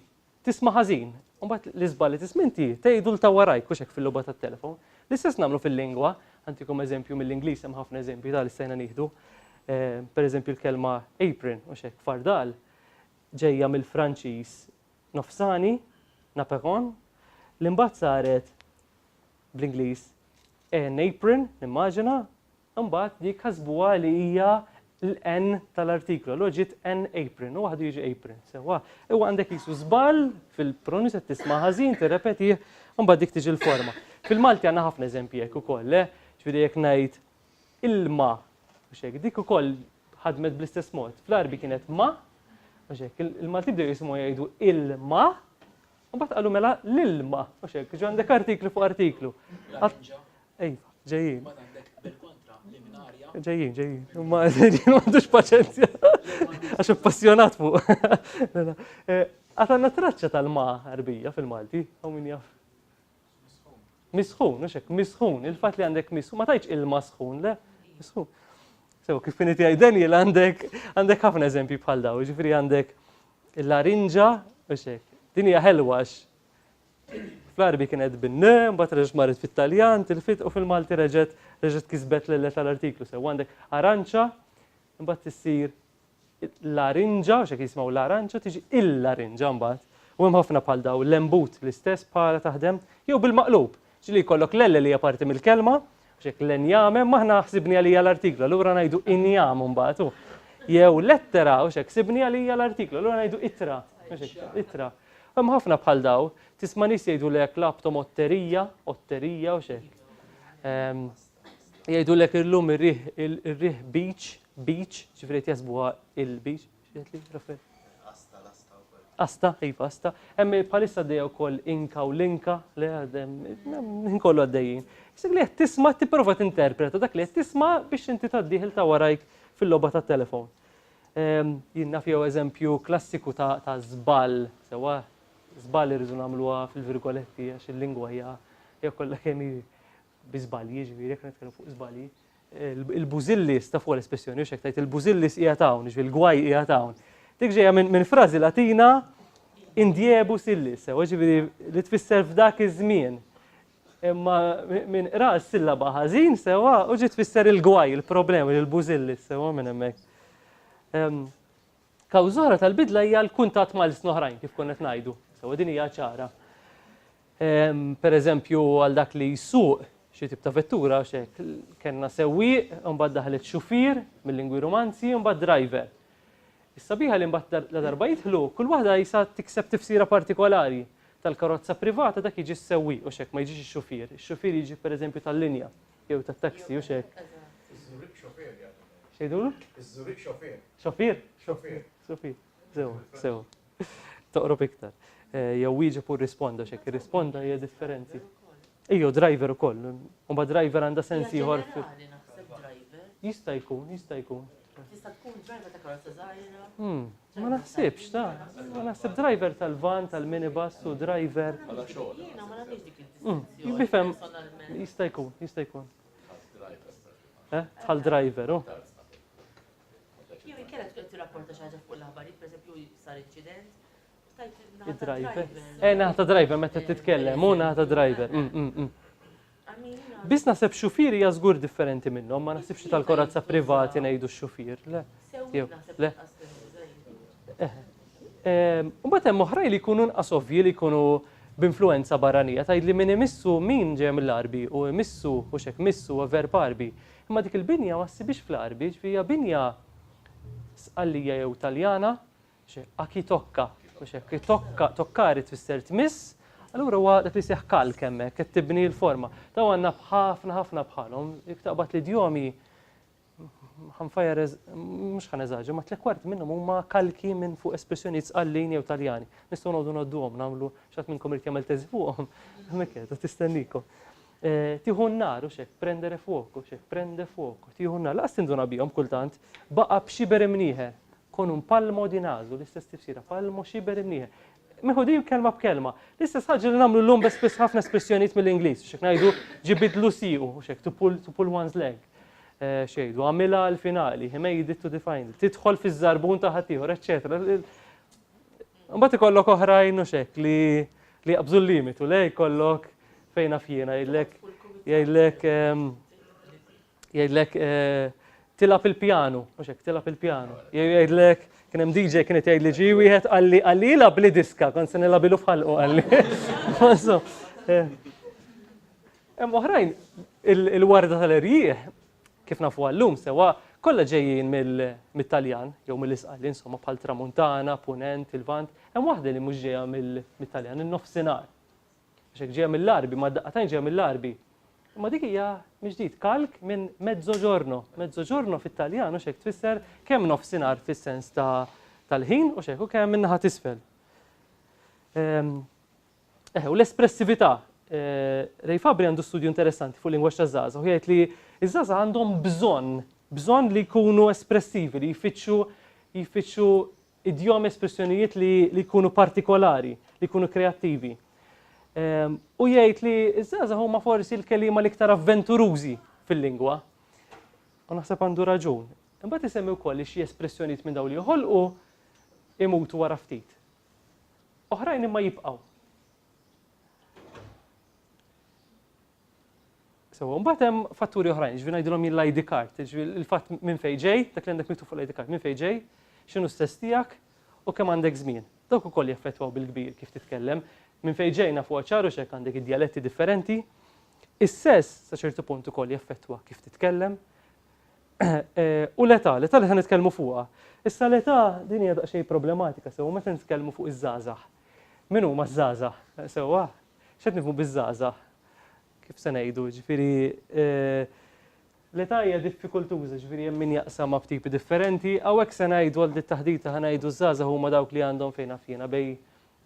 tisma' ħażin, u mbagħad l-iżbal li tisma' inti tgħidu l ta' warajk mhux hekk fil-logħba tat-telefon. L-istess nagħmlu fil-lingwa, għantikom eżempju mill-Ingliż hemm ħafna eżempji ta' li stajna nieħdu. Pereżempju l-kelma apron mhux hekk fardal ġejja mill-Franċiż Nofsani, naperon, li mbagħad saret bl-Ingliż a napron, nimmaġina, imbagħad dik ħasbuha li hija l-N tal-artiklu, allura ġiet an apron, u waħdu jiġi apron, sewwa. Huwa għandek qisu żball fil-pronunzja qed tisma' ħażin, tirrepetih, imbagħad dik tiġi l-forma. Fil-Malti għandna ħafna eżempji hekk ukoll, le? Ġifieri jekk ngħid ilma, mhux hekk, dik ukoll ħadmet bl-istess mod. Fl-Għarbi kienet ma, mhux hekk, il-Malti bdew jisimgħu jgħidu ilma, u mbagħad qalu mela l-ilma, mhux hekk, ġo għandek artiklu fuq artiklu. Ej, ġejjin. Ġejjin, ġejjin. Ma ġejjin m'għandux paċenzja. Għax appassjonat fuq. Mela, eh, Għatanna traċċa tal-ma Arbija fil-Malti, għaw min jaf. Misħun, mhux hekk, misħun, il-fatt li għandek misħun, ma tajtx ilma sħun, le, misħun. Sew kif inti għaj Daniel għandek għandek ħafna eżempji bħal daw, ġifri għandek il-larinġa, mhux hekk. Din hija ħelwax. Fl-Arbi kienet bin-ne, mbagħad reġgħet marret fit-Taljan, tilfit u fil-Malti reġgħet reġgħet kisbet l tal-artiklu sew għandek aranċa, mbagħad tissir larinġa, għax hekk jisimgħu l-aranċa, tiġi il-larinġa mbagħad. U hemm ħafna bħal daw l-embut l-istess bħala taħdem, jew bil-maqlub, ġieli jkollok l-elle li hija parti mill-kelma, għax hekk l-enjame, ma aħna ħsibni għalija l-artiklu, allura ngħidu injam mbagħad hu. Jew lettera, għax hekk sibni għalija l-artiklu, allura ngħidu itra, itra. Hemm ħafna bħal daw, tisma' nies jgħidulek laptom otterija, otterija u xek. Ehm, Jgħidulek illum ir-riħ ir-riħ beach, beach, ġifieri qed jaħsbuha il-beach, x'qed li Rafael? Asta, l-asta wkoll. Asta, iva, asta. Hemm bħalissa għaddejja wkoll inka u linka, le għaddejjem kollu għaddejjin. Issa li qed tisma' tipprova tinterpreta dak li qed tisma' biex inti tgħaddih il ta' warajk fil-logħba tat-telefon. Ehm, jien naf jew eżempju klassiku ta' ta' żball, sewwa żball irridu nagħmluha fil-virgoletti għax il-lingwa hija hija kollha kemm hi bi żbalji, jiġifieri jekk nitkellmu fuq żbalji, il-bużillis ta' fuq l-espressjoni, u xek tajt il-bużillis qiegħed hawn, jiġifieri l-gwaj qiegħed hawn. Dik ġejja minn frażi Latina indiebu sillis, sewa ġifieri li tfisser f'dak iż-żmien. Imma minn qra s-sillaba ħażin sewa u ġiet tfisser il-gwaj, il-problemi, il-bużillis sewa minn hemmhekk. Ehm, Kawżora tal-bidla hija l-kuntatt mal-snoħrajn kif konnet ngħidu, sewa din hija ċara. Pereżempju għal dak li jsuq xi tip ta' vettura għax hekk kellna sewwieq, imbagħad daħlet xufier, mil-lingwi Rumanzi, imbagħad driver. Is-sabiħa li mbagħad ladarba jidħlu, kull waħda qisha tikseb tifsira partikolari. Tal-karozza privata dak jiġi s-sewwieq hux hekk, ma jiġix ix-xufier. Ix-xufier jiġi pereżempju tal-linja jew tat-taxi hux hekk. Iż-Żuriq xofier jagħmilha. X'jgħidulu? Iż-Żuriq xofier. Xofier? Xofier. Xofier. Sew, sew. Toqrob iktar. Eh, jew wieġeb u rrisponda xek, irrisponda hija differenti. Ejjo, driver ukoll. Umba driver għandha sens ieħor. Jista' jkun, jista' jkun. Jista' tkun driver ta' karozza żgħira. Hmm, ma naħsibx ta' ma naħseb driver tal-van, tal-minibus u driver. Jiena ma nagħmilx dik hmm, il Bifhem jista' jkun, jista' jkun. Eh, tal driver, u. Oh. Jew inkella tkun qed tirrapporta xi ħaġa fuq l-aħbarijiet, pereżempju sar inċident, u tajt il-naħa ta' Driver. driver. Eh, naħa ta' driver meta titkellem, u naħa ta' driver. Mm, mm, mm. Għamilina- Biss naħseb xufier hija żgur differenti minnhom, ma naħsibx li tal-korazza privati ngħidu x-xufier, le. Sewwieq jew, naħseb le. inqas perikoluża jien. Mbagħad hemm oħrajn li jkunu nqas ovvji li jkunu b'influenza barranija, tgħidli min imissu min ġej mill-Għarbi u imissu u xek missu u verb Għarbi. Imma dik il-binja ma ssibhiex fl-Għarbi, jiġifieri hija binja Sqallija jew Taljana, a chi tocca, mhux hekk, chi tocca, toccare tfisser tmiss, allura huwa dak li jseħħ kalk hemmhekk, qed tibni l-forma. Dawn għandna b'ħafna ħafna bħalhom, jekk taqbad l-idjomi, ħa nfajjar eż-, mhux ħa neżaġera, ma trekwarti minnhom huma kalki minn fuq espressjonijiet Sqallin jew Taljani. Nistgħu noqogħdu ngħodduhom, nagħmlu, xi ħadd minnkom irid jagħmel teżi fuqhom, hemmhekk qiegħda tistenniekom. Tieħu n-nar, u x'hekk, prendere fuoco, x'hekk, prende fuoco, tieħu n-nar. Lanqas tinduna bihom kultant. Baqa' b'scibere mnieħer, con un palmo di naso, l-istess tifsira, palmo, scibere, mnieħer. Meħudin kelma b'kelma. L-istess ħaġa li nagħmlu llum bi spiss ħafna espressjonijiet mill-Ingliż, u x'hekk ngħidu ġie bidlu siequ, u x'hekk, to pull, to pull one's leg. X'jgħidu, għamilha għall-finali, he made it to the final, tidħol fiż-żarbun ta' ħaddieħor, eċċetera. Mbagħad ikollok oħrajn u xek li li jaqbżu l-limitu, le jkollok fejn afjina jgħidlek jgħidlek ehm, jgħidlek eh, tilab il-pjanu, mhux hekk tilab il-pjanu. Jgħidlek kien hemm DJ kien qed jgħidli ġi wieħed qalli qalli jilab li diska kont se nilabilu f'ħalqu qalli. Eh. Hemm oħrajn il-warda tal-erjieħ kif nafuha llum sewwa, kollha ġejjin mit-Taljan, jew mill-Isqal, insomma, bħall-Tramuntana, Punent, il-Lvant, hemm waħda li mhux ġejja mit-Taljan, in-Nofsinhar. Għax hekk ġejja mill-Għarbi, ma' daqqatajn ġejja mill-Għarbi. Imma dik hija mill-ġdid kalk minn mezzoġorno. Mezzoġorno fit-Taljan hux hekk tfisser kemm nofsinhar fis-sens ta' tal-ħin hux hekk u kemm in-naħa t'isfel. Eħe, u l-espressività. Ray Fabri għandu studju interessanti fuq lingwaġġ taż-żgħażagħ u jgħid li ż-żgħażagħ għandhom bżonn, bżonn li jkunu espressivi, li jfittxu jfittxu idjomi, espressjonijiet li jkunu partikolari, li jkunu kreattivi. Ehm, u jgħid li ż-żgħażagħ huma forsi l-kelima l-iktar avventurużi fil-lingwa. U naħseb għandu raġun. Imbagħad isemmi wkoll li xi espressjonijiet minn dawn li joħolqu imutu wara ftit. Oħrajn imma jibqgħu. Sewa, mbagħad hemm fatturi oħrajn, ġifieri ngħidilhom jien l-ID card, ġifieri il-fatt minn fejn ġej, dak li għandek miktub fuq l-ID card, minn fejn ġej, x'inhu s-sess tiegħek u kemm għandek żmien. Dawk ukoll jaffettwaw bil-kbir kif titkellem. Minn fejn ġej nafuha ċar u x'hekk għandek id-djaletti differenti. Is-sess sa ċertu punt ukoll jaffettwa kif titkellem. U l-età, l-età li se nitkellmu fuqha. Issa l-età din hija daqsxejn problematika sew meta nitkellmu fuq iż-żgħażagħ. Min huma ż-żgħażagħ sewwa? X'qed nifhmu biż-żgħażagħ? Kif se ngħidu, ġifieri l-età hija diffikultuża, ġifieri hemm min jaqsamha b'tipi differenti, hawnhekk se ngħidu għal dit-taħdita ħa ngħidu ż-żgħażagħ huma dawk li għandhom fejn naf jiena bejn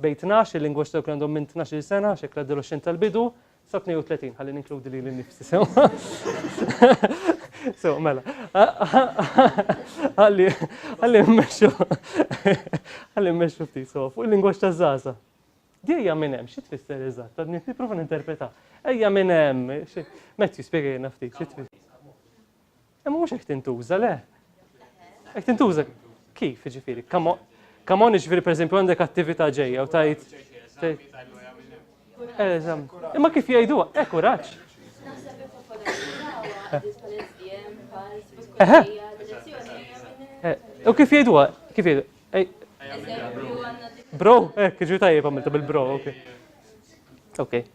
bejn tnax, il-lingwaġġ ta' dawk li għandhom minn tnax-il sena, x'hekk l-adoloxxent tal-bidu, sa 32, ħalli ninkludi lili nnifsi sewwa. Sewwa, mela. Ħalli ħalli mmexxu ħalli mmexxu ftit sewwa fuq il-lingwaġġ taż-żgħażagħ. Di ejja minn hemm, xi tfisser eżatt? Għadni nipprova ninterpreta. Ejja minn hemm, xi Matthew spjegajna ftit, xi tfisser? Imma mhux hekk tintuża, le? Hekk tintuża kif, jiġifieri? Come on, jiġifieri pereżempju għandek attività ġejja u tajt. Imma kif jgħidu, hekk u raġ. U kif jgħidu, kif jgħidu? Bro, hekk, ġu tajjeb għamilta bil-bro, ok. Ok.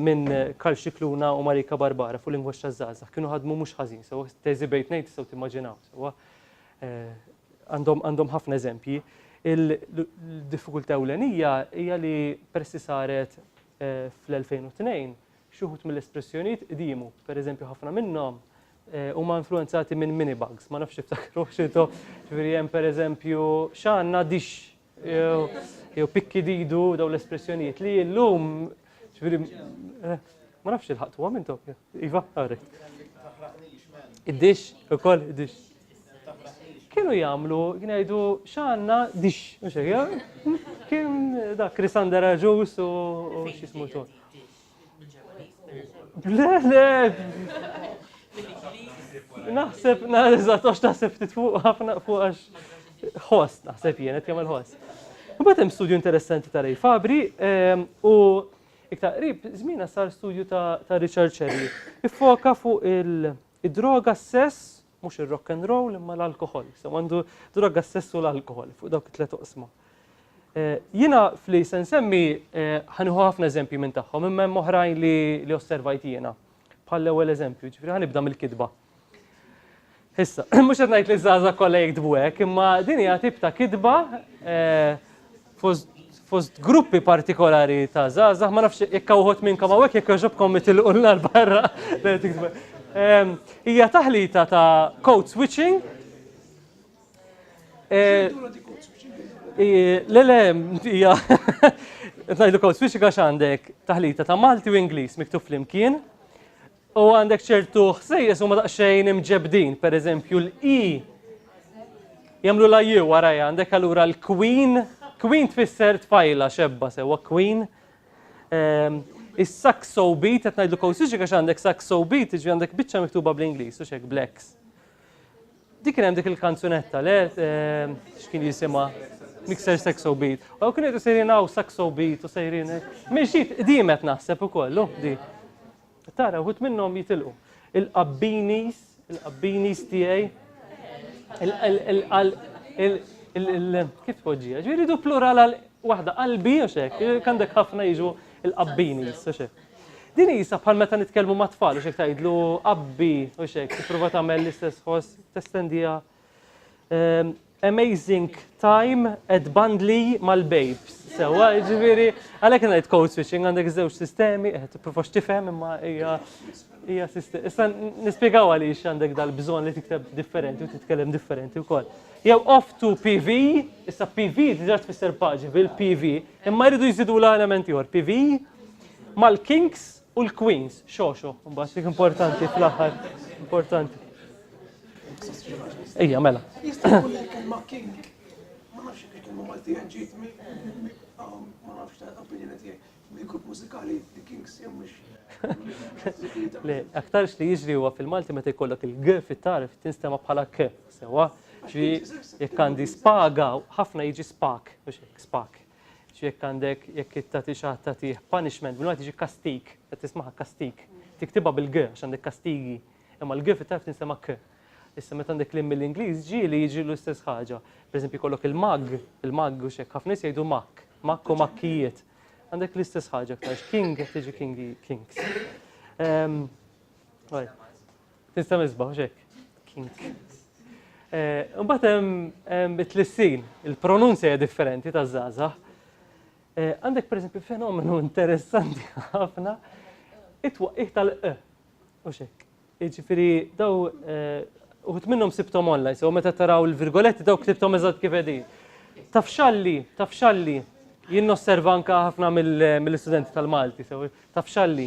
minn Karl Scicluna u Marika Barbara fuq lingwaġġ taż-żgħażagħ. Kienu ħadmu mhux ħażin sewwa, teżi bejn tnejn tistgħu timmaġinaw sewwa. Għandhom għandhom ħafna eżempji. Il-diffikultà ewlenija hija li peress li saret fl-2002 xi wħud mill-espressjonijiet qdimu. Pereżempju ħafna minnhom huma influwenzati minn minibugs, ma nafx tiftakruhx intom, ġifieri hemm pereżempju x'għandna dixx, jew pikki didu daw l-espressjonijiet li illum ġifieri eh, ma nafx il-ħaqtuhom intom. Iva, għarri. Id-dix, ukoll id-dix. Kienu jagħmlu, kienu jgħidu x'għandna dix, mhux hekk, kien dak Krisander Aġus u x'ismu xogħol. Le, le! Naħseb, naħseb, tox taħseb ftit fuq ħafna fuq għax host, naħseb jien, qed jagħmel host. Imbagħad hemm studju interessanti ta' Ray Fabri ehm, u iktar qrib żmiena sar studju ta' Richard Cherry. Iffoka fuq il- Id-droga s-sess, mhux ir-rock and roll imma l-alkoħol, sew għandu droga s-sess u l-alkoħol fuq dawk it-tliet oqsma. Jiena fli se nsemmi ħanieħu ħafna eżempji minn tagħhom imma hemm oħrajn li li osservajt jiena. Bħall-ewwel eżempju, ġifieri ħanibda mill-kitba. Issa, mhux qed ngħid li żgħażagħ kollha jiktbu hekk, imma din hija tip ta' kitba fost gruppi partikolari ta' zazah, ma nafx jekk uħut minnkom għawek jekk joġobkom mitilqu l-nar barra. Hija taħlita ta' code switching. Eh, le, le, hija. Tnajdlu code switching għax għandek taħlita ta' Malti u Ingliż miktub flimkien. U għandek ċertu ħsejjes huma daqsxejn imġebdin, per eżempju l-i jamlu la ju warajja, għandek allura l-queen, queen tfisser tfajla xebba sewa queen. Ehm, is-saxo beat, qed ngħidlu kowsiġi għax għandek saxo beat, ġi għandek biċċa miktuba bl-Ingliż u xek blacks. Dik kien hemm dik il-kanzunetta le ehm, x'kien jisimha Mixer Saxo Beat. U kien qed sejrin hawn Saxo Beat u sejrin. Minn xi qdimet naħseb ukoll, di. Tara, uħut minnhom jitilqu. Il-qabbinis, il-qabbinis tiegħi, kif tpoġġija? Ġifieri du plural għal waħda qalbi u xek, għandek ħafna jiġu il-qabbinis u xek. Din jisa bħal meta nitkellmu ma' tfal u xek tgħidlu qabbi u xek, tipprova tagħmel l-istess ħoss testendija Ehm, amazing time at Bandli mal-babes. Sewa, ġviri, għalek għana jt code switching għandek zewġ sistemi, eh, t-profa xtifem imma hija hija sistemi. Issa nispiegaw għaliex għandek dal-bżon li tikteb differenti u titkellem differenti wkoll. Jew off to PV, issa PV diġa tfisser paġi bil-PV, imma jridu jżidu l-elementi għor PV, mal-kinks U l-Queens, xoxo, mbagħad dik importanti fl-aħħar, importanti. Ejja, mela. Jista' jkun il-kelma king. Ma nafx jekk il-kelma Maltija ġiet ma nafx ta' opinjoni tiegħi. Mill-grupp mużikali The Kings jew mhux. Le, aktarx li jiġri huwa fil-Malti meta jkollok il-g fit-tarf tinstema' bħala k, sewa. Ġi jekk għandi spaga, ħafna jiġi spak, mhux hekk spak. Jekk għandek, jekk tagħti xi ħadd tagħtih punishment, bil-Malti tiġi kastig, qed tismaha kastig. Tiktibha bil-g għax għandek kastigi, imma l-g fit-Tajf tinsema' k. Issa meta għandek l-im mill-Ingliż ġieli jiġi l-istess ħaġa. Pereżempju jkollok il-mag, il-mag u x'hekk, ħafna nies jgħidu makk, makk u makkijiet. Għandek l-istess ħaġa aktarx, king qed tiġi kings. Ehm, Tista' misbaħ, mhux hekk? Kink. Imbagħad eh, hemm bit-tlissin, il-pronunzja hija differenti ta' żgħażagħ. Eh, għandek pereżempju fenomenu interessanti ħafna it-twaqqih tal-q. U xek. Iġifieri daw eh, uħut minnhom sibtom online, sew meta taraw il-virgoletti daw ktibtom eżatt kif qegħdin. Tafxalli, tafxalli, jien nosserva anka ħafna mill-istudenti tal-Malti, sew tafxalli.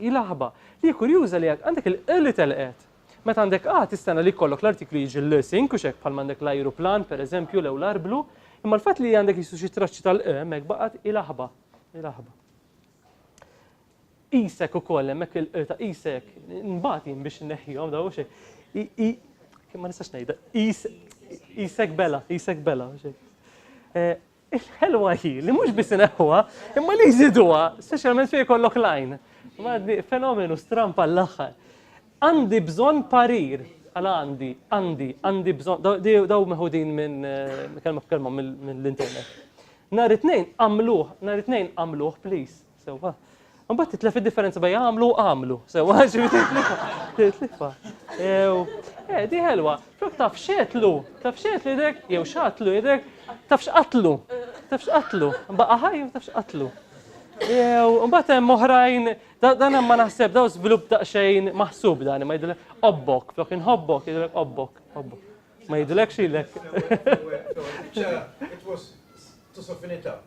Hi l-aħba. Hi kurjuża li għandek il-qli telqet. Meta għandek A tistenna li jkollok l-artiklu jiġi l-sink u x'hekk bħalma għandek l-ajruplan, pereżempju, lew l-arblu, imma l-fatt li għandek jisu xi traċċi tal-q hemmhekk baqgħet hi l-aħba. Hi l-aħba. Qisek ukoll hemmhekk il-q ta' qisek, nbati jien biex inneħħihom daw xejn. I ma nistax ngħidha. Qisek bela, qisek bela. Il-ħelwa hi li mhux biss ineħħuha, imma li jżiduha, speċjalment fejn jkollok lajn. Għaddi fenomenu strampa l-aħħar. Għandi bżonn parir, għala għandi, għandi, għandi bżonn, daw meħudin minn eh, kelma kelma mill-internet. Nar it-tnejn għamluh, nar it-tnejn għamluh, please. Sewwa. Mbagħad titlef id-differenza bejn għamlu u għamlu. Sewwa, titlifa. Eh, di ħelwa. Flok taf xetlu, taf xetlu idek, jew xatlu idek, taf xqatlu, taf xqatlu. Baqa ħaj, taf xqatlu. Jew, mbagħad hemm oħrajn, dan hemm ma naħseb daw żvilupp daqsxejn maħsub dan, ma jidilek obbok, flok inħobbok, jidilek obbok, obbok. Ma jidilek xilek. It was to soften it up.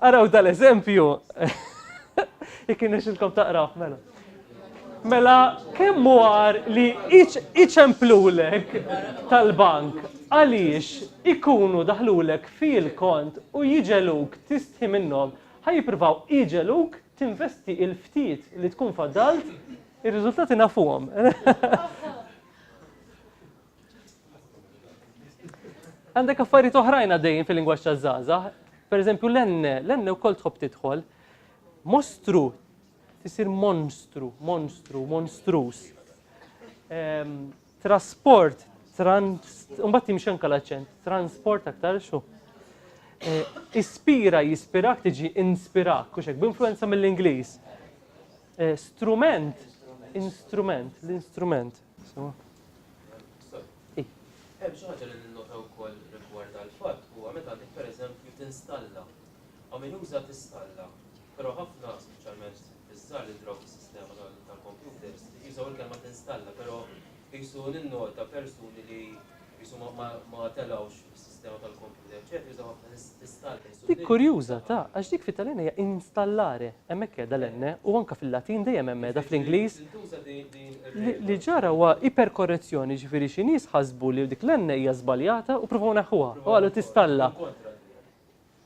Araw dal-eżempju. Jekk inexilkom taqraw, mela. Mela, kemm war li iċemplulek tal-bank għaliex ikunu daħlulek fil-kont u jiġeluk tistħi minnhom, ħaj jippruvaw iġeluk tinvesti il-ftit li tkun faddalt, ir-riżultati nafuhom. Għandek affarijiet oħrajn għaddejjin fil-lingwaġġ taż-żgħażagħ. Pereżempju l-enne, l-enne wkoll tħobb tidħol. Mostru tisir monstru, monstru, monstrus. Ehm, trasport, mbagħad timxi anke l-aċċent, transport aktar xu. Eh, ispira jispirak tiġi inspirak, kux hekk b'influenza mill-Ingliż. Eh, strument, instrument, l-instrument. Hemm xi ħaġa li ninnota wkoll rigward dal-fatt huwa meta dik pereżempju tinstalla. Hawn min juża tistalla, però ħafna speċjalment iż-żgħar li jidhru fis-sistema tal-kompjuters jużaw il-kelma tinstalla, però qisu ninnota persuni li qisu ma telgħux Dik kurjuża, ta, għax dik fit-Taljan hija installare, hemmhekk qiegħda l-enne, u anke fil-Latin dejjem hemm qiegħda fl-Ingliż. Li, li ġara huwa iperkorrezzjoni, jiġifieri xi nies ħasbu li dik l-enne hija żbaljata u provaw neħħuha, u qalu tistalla.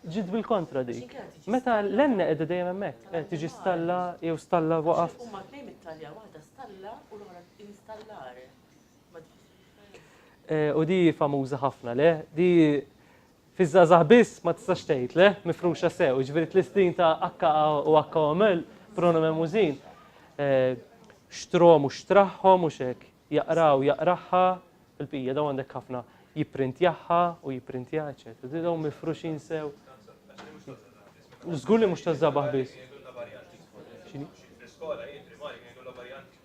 Ġiet bil-kontra dik. Meta l-enne qiegħda dejjem hemmhekk, eh, tiġi stalla jew stalla waqaf. Huma tnejn mit-Taljan, waħda stalla u l-oħra installare. U di famuża ħafna, le? Di fiż-żgħażagħ biss ma tistax tgħid, le? Mifruxa sew, jiġifieri tlistin ta' akka u akka omel, pronomen mużin. Xtrom u xtraħħom u xek, jaqraw jaqraħħa, il-pija daw għandek ħafna jipprintjaħħa u jipprintja, eċetera. Di daw mifruxin sew. Żgur li mhux taż-żabaħ biss. X'inhi? Fl-iskola jien primari kienu jkollhom varjanti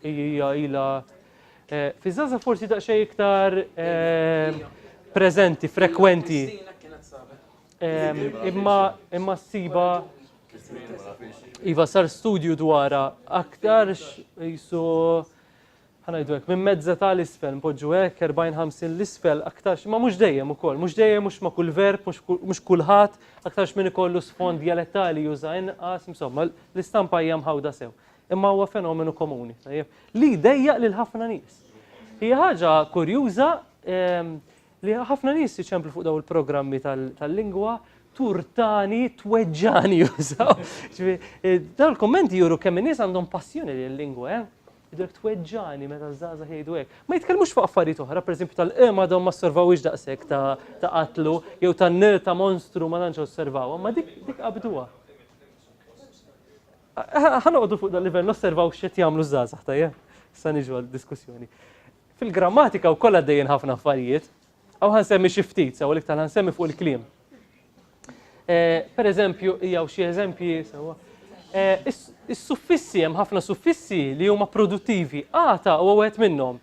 Hija ila fi żaza forsi daqsxejn iktar preżenti, frekwenti. Imma imma ssiba Iva sar studju dwara aktarx jisu ħanajdu hekk, minn mezza ta' l-isfel, mpoġġu hekk, 40-50 l-isfel, aktarx, ma mhux dejjem ukoll, mhux dejjem mhux ma' kull verb, mhux kulħadd, aktarx minn ikollu sfond dialettali juża inqas, insomma, L-istampa hija mħawda sew, imma huwa fenomenu komuni, tajjeb, li jdejjaq lil ħafna nies. Hija ħaġa kurjuża li ħafna nies jiċemplu fuq daw il-programmi tal-lingwa turtani tweġġani jużaw. Eh, daw il-kommenti juru kemm nies għandhom passjoni li l-lingwa, eh? Idrek tweġġani meta żgħażagħ jgħidu hekk. Ma jitkellmux fuq affarijiet oħra, pereżempju tal-qema eh, dawn ma osservawx daqshekk ta' qatlu jew tan-nil ta' monstru ma tantx osservaw, ma dik qabduha. Ħa noqogħdu fuq dan livell nosservaw x'qed jagħmlu żgħażagħ tajjeb. Sa niġu għal diskussjoni. Fil-grammatika wkoll għaddejjin ħafna affarijiet. Aw ħansemmi xi ftit, sew l-iktar ħansemmi fuq il-kliem. Eh, per eżempju, jew xi eżempji sewwa. Eh, is-suffissi hemm ħafna suffissi li huma produttivi. Għata huwa wieħed minnhom.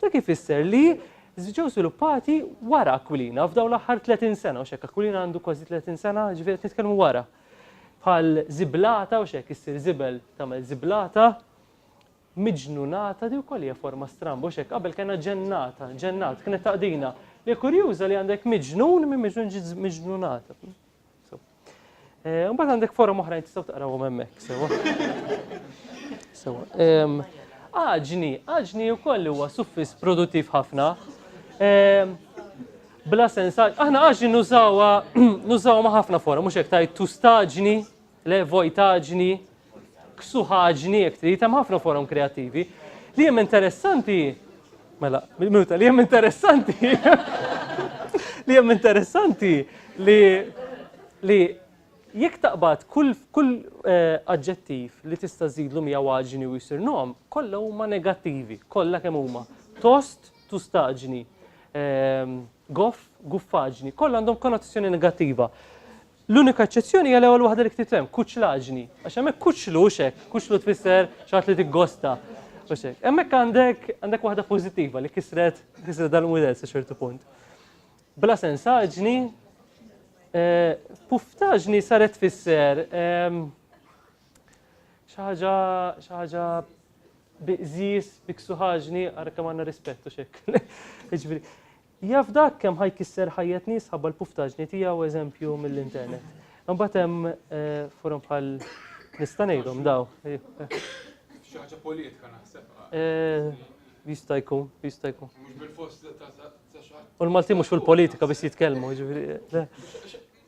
Dak ifisser li ġew sviluppati wara Aquilina f'dawn l-aħħar 30 sena u xek Aquilina għandu kważi 30 sena ġifieri qed nitkellmu wara. Bħal ziblata u xek issir zibel tagħmel ziblata miġnunata di wkoll hija forma stramba u xek qabel kena ġennata, ġennat kienet taqdina li kurjuża li għandek miġnun minn miġnun ġiet miġnunata. Eh, mbagħad għandek forum oħrajn tistgħu taqrawhom hemmhekk sewa. Sewa. Aġni, aġni wkoll huwa suffis produttiv ħafna. Bla sens, aħna aġni nużawha nużawha ma' ħafna forum, mhux hekk tajt tustaġni, le vojtaġni, ksuħaġni jekk trid, hemm ħafna forum kreattivi. Li hemm interessanti Mela, minuta, li hemm interessanti. li hemm interessanti li li jekk taqbad kull kull eh, aġġettiv li tista' żidlu mija waġni u jsir nom, kollha huma negattivi, kollha kemm huma. Tost, tustaġni, ehm, goff, guffaġni, kollha għandhom konnotazzjoni negattiva. L-unika eċċezzjoni hija l-ewwel waħda li ktibt hemm, kuċlaġni. Għax hemmhekk kuċlu hux hekk, kuċlu tfisser xi ħadd li tiggosta. Hux hekk. Hemmhekk għandek għandek waħda pożittiva li kisret kisret dal-mudell sa ċertu punt. Bla sensaġni, eh, puftaġni saret tfisser ehm, xi ħaġa xi ħaġa biqżis, biksuħaġni, għarka manna rispettu xek. Jaf dak kemm ħa jkisser ħajjet nies ħabba l-puftaġni tiegħu eżempju mill-internet. Imbagħad hemm forom bħal nista' ngħidhom daw. Xi ħaġa politika naħseb. Jista' jkun, jista' jkun. Mhux bil-fost ta' xi ħadd. U l-Maltin mhux fil-politika biss jitkellmu, jiġifieri.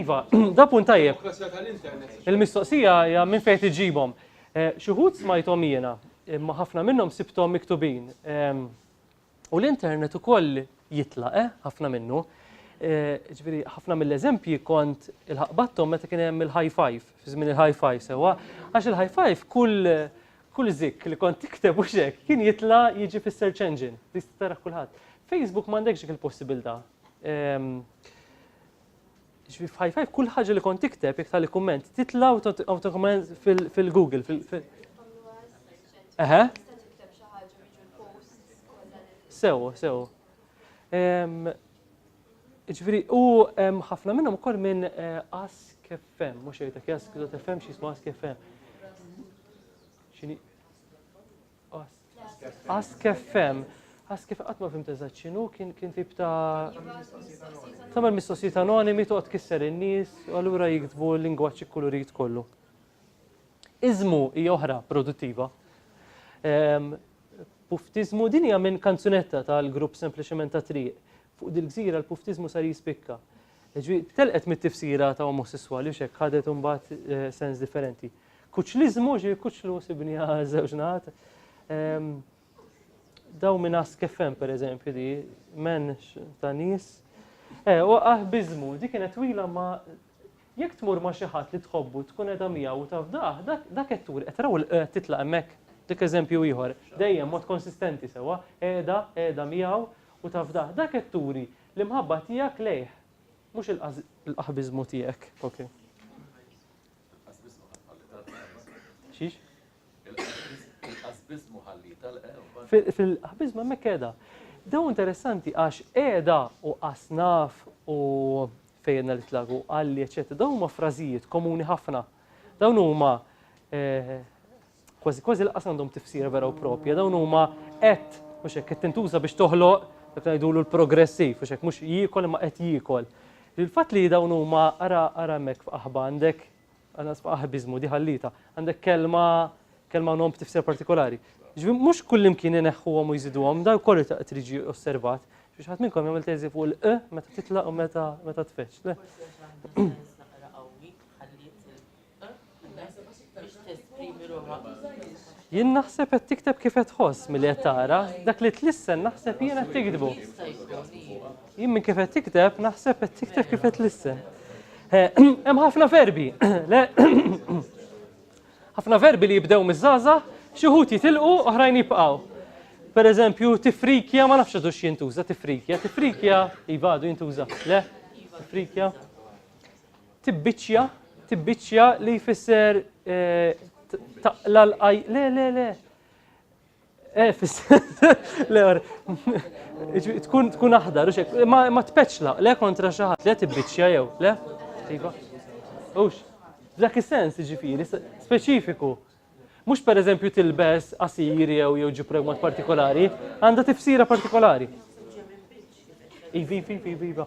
Iva, da punt tajjeb. Il-mistoqsija hija minn fejn tiġibhom. Eh, xi wħud smajthom jiena, imma ħafna minnhom sibthom miktubin. Ehm, u l-internet ukoll jitlaq, eh, ħafna minnu. Eh, ġviri, ħafna mill-eżempji kont il-ħaqbattom meta kien hemm il-high five, fi żmien il-high five sewa, għax il-high five kull kull zik li kont tikteb u xek kien jitla jiġi fis-search engine, tista' tara kulħadd. Facebook m'għandekx dik il-possibilità, Ġifi f'ħaj f'ħaj, kull ħaġa li kont tikteb, jek tal kumment, titla autokomment fil-Google. Eħe? Sew, sew. Ġifiri, u ħafna minnhom ukoll minn eh, Ask FM, mhux jgħidek Ask FM xi jismu Ask FM. Xini? Ask FM. Ask FM qatt ma fim eżatt x'inhu kien kien tip ta' tagħmel mistoqsijiet anonimi toqgħod kisser in-nies u allura jiktbu l-lingwaġġ ikkulurit kollu. Iżmu hija oħra produttiva. Ehm, puftizmu din hija minn kanzunetta tal-grupp sempliċement ta' triq. Fuq dil-gżira l-puftizmu sar jispikka. Ġwi, telqet mit-tifsira ta' omosessuali u xek ħadet imbagħad eh, sens differenti. Kuċliżmu, ġifieri kuċlu sibni għal żewġ naħat. Ehm, daw minn askefem per eżempju di, men ta' nis. Eh, u bizmu, di kienet twila ma jekk tmur ma xi ħadd li tħobbu tkun edha miegħu u taf daħ, dak qed tur qed raw eh, titlaq hemmhekk. Dik eżempju ieħor, dejjem mod konsistenti sewa, qiegħda, qiegħda miegħu u taf daħ, dak qed turi l-imħabba tiegħek lejh, mhux il-qaħbiżmu tiegħek. Okay. Xiex? Il-qasbizmu ħalli tal-qew. Fil-qasbizmu hemmhekk qiegħda. Dew interessanti għax qiegħda u qasnaf u fejna li tlagu għalli eċetera. Dawn huma frażijiet komuni ħafna. Dawn huma eh, Kważi kważi laqas għandhom tifsira vera u propja, dawn huma qed mhux hekk qed tintuża biex toħloq dak ngħidulu l-progressiv, mhux hekk mhux jiekol imma qed jiekol. Il-fatt li dawn huma ara ara hemmhekk f'qaħba għandek għanqas f'qaħbiżmu di ħallita, għandek kelma kelma nom b'tifsira partikolari. Ġifieri mhux kullimkien ineħħuhom u jżiduhom, dan kollu ta' qed jiġi osservat. Biex ħadd minnkom jagħmel teżi fuq il-q meta titlaq u meta meta tfeċċ. Jien naħseb qed tikteb kif qed tħoss milli qed taqra, dak li tlissen naħseb jien qed tiktbu. Jien minn kif qed tikteb naħseb qed tikteb kif qed tlissen. Eh, hemm ħafna verbi. Ħafna verbi li jibdew miż-żaża, xi wħud jitilqu oħrajn jibqgħu. Per eżempju, tifrikja ma nafx għadux jintuża tifrikja, tifrikja ibadu jintuża. Le? Tifrikja. Tibbiċċja, tibbiċċja li jfisser taqla l-qaj. Le, le, le. Eh, fisser. Le, tkun tkun aħdar, ma tpeċla, le kontra xi ħadd, le tibbiċċja jew, le? Iva. Ux, dak is-sens ġifieri, speċifiku. Mhux pereżempju tilbes qasir jew jew ġib mod partikolari, għandha tifsira partikolari. Ivi, ivi, ivi, iva.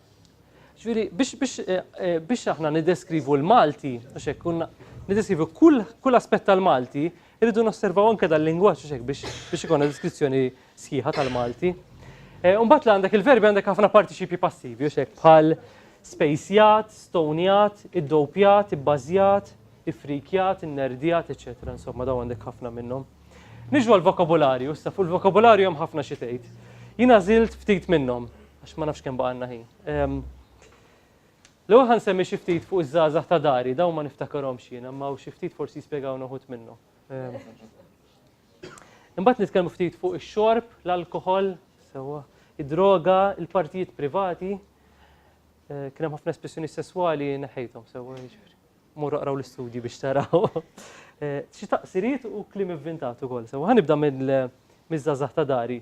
Ġviri, biex, biex, eh, eh, biex aħna nideskrivu l-Malti, għax hekk kunna nideskrivu kull, kull aspett tal-Malti, irridu nosservaw anke dal-lingwaġġ għax hekk biex, biex ikonna deskrizzjoni sħiħa tal-Malti. Eh, Umbat li għandek il-verbi għandek ħafna partiċipji passivi, għax hekk bħal spejsjat, stonjat, iddopjat, ibbażjat, ifrikjat, innerdjat, eċetera. Insomma, daw għandek ħafna minnhom. Niġu għall-vokabularju, issa fuq il-vokabularju hemm ħafna xi tgħid. Jien għażilt ftit minnhom, għax ma nafx kemm baqgħanna ħin. Ehm, l-ewwel ħan semmi xi ftit fuq iż-żgħażagħ ta' dari, dawn ma niftakarhomx jiena, ma xi ftit forsi jispjegaw noħut minnhom. Ehm, imbagħad nitkellmu ftit fuq ix-xorb, l-alkoħol, sewwa, id-droga, il-partijiet privati, eh, kien hemm ħafna espressjoni sesswali neħejthom sewwa jiġifieri. Morru aqraw l-istudji biex taraw. Xi taqsiriet u kliem ivvintat ukoll. Sewa ħanibda mill-żgħażagħ ta' dari.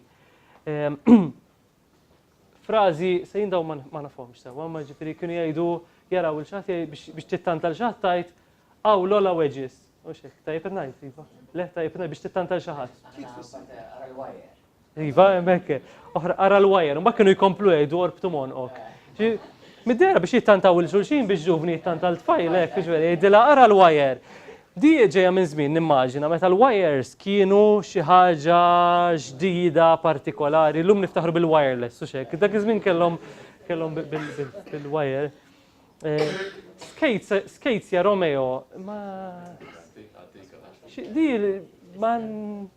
Frażi se jindaw ma nafhomx sewa, ma ġifieri kienu jgħidu jaraw il xaħat biex tittanta l xaħat tajt għaw l-ola weġis. U xek, tajjeb ngħid, iva. Le, tajjeb ngħid biex tittanta l xaħat. Iva, hemmhekk. Oħra qara l-wire, mbagħad kienu jkomplu jgħidu orbtu monqok. Middera biex jittantaw il-xulxin biex ġuvni jittantal tfajl, hekk, biex jgħidilha qara l-wire. Di ġejja minn żmien nimmaġina meta l-wires kienu xi ħaġa ġdida partikolari, llum niftaħru bil-wireless u xek. Dak iż-żmien kellhom kellhom bil-wire. Eh, Skates ja Romeo, ma. Di ma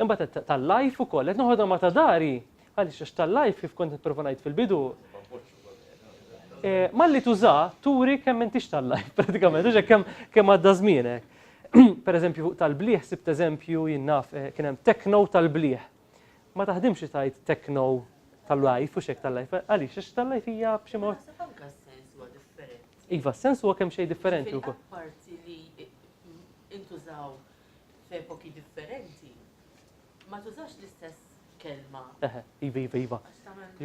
Imbagħad tal-life ukoll qed noħodha ma' ta' dari għaliex għax tal-life kif kont nipprova ngħid fil-bidu. Eh, malli tuża turi kemm intix tal-life pratikament, għax kemm kemm għadda żmienek. Per eżempju tal-bliħ sibt eżempju jinnaf eh, kien hemm tekno tal-bliħ. Ma taħdimx tajt tekno tal-life u xek tal-life, għaliex għax tal-life hija b'xi mod. Iva, s-sens huwa kemm xejn differenti wkoll. Parti li intużaw f'epoki differenti ma tużax l-istess kelma. Eħe, iva, iva, iva.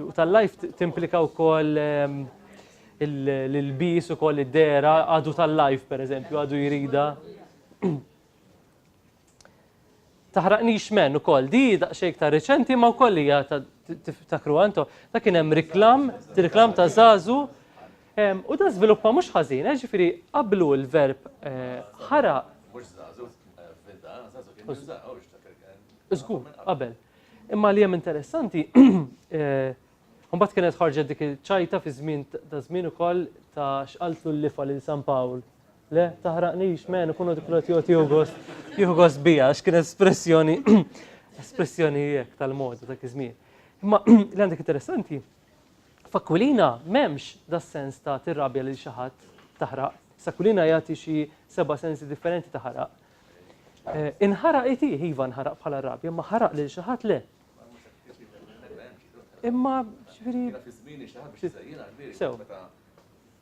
U tal-life timplika wkoll ehm, l-bis u koll id-dera għadu tal-life, per eżempju, għadu jirida. Taħraqnix men u koll, di daqxejk ta' reċenti ma' koll li ta' kruanto, ta' kienem reklam, reklam ta' zazu, U dan żviluppa mhux ħażin, jiġifieri qablu l-verb ħaraq. Mhux żagħżugħ f'Vinta, żagħżugħ kien minn żgħar, hu jiftakar kien. Żgur, qabel. Imma li hemm interessanti, mbagħad kienet ħarġet dik iċ-ċajta fi żmien ta' żmien ukoll ta' x'qaltlu l-lifa lil San Pawl. Le, taħraqnix, men, ikunu dik l joti jugos, jugos bija, x'kien espressjoni, espressjoni jek tal-moda ta' kizmien. Imma li għandek interessanti, F'Akwilina m'hemmx das-sens ta' tirrabja lil xi ħadd, taħraq. S'Akwilina jagħti xi seba' sensi differenti ta' ħaraq. Inħaraq it, iva nħaraq bħala r-rabja, imma ħaraq lil xi ħadd le. Imma, ġifieri. Sew.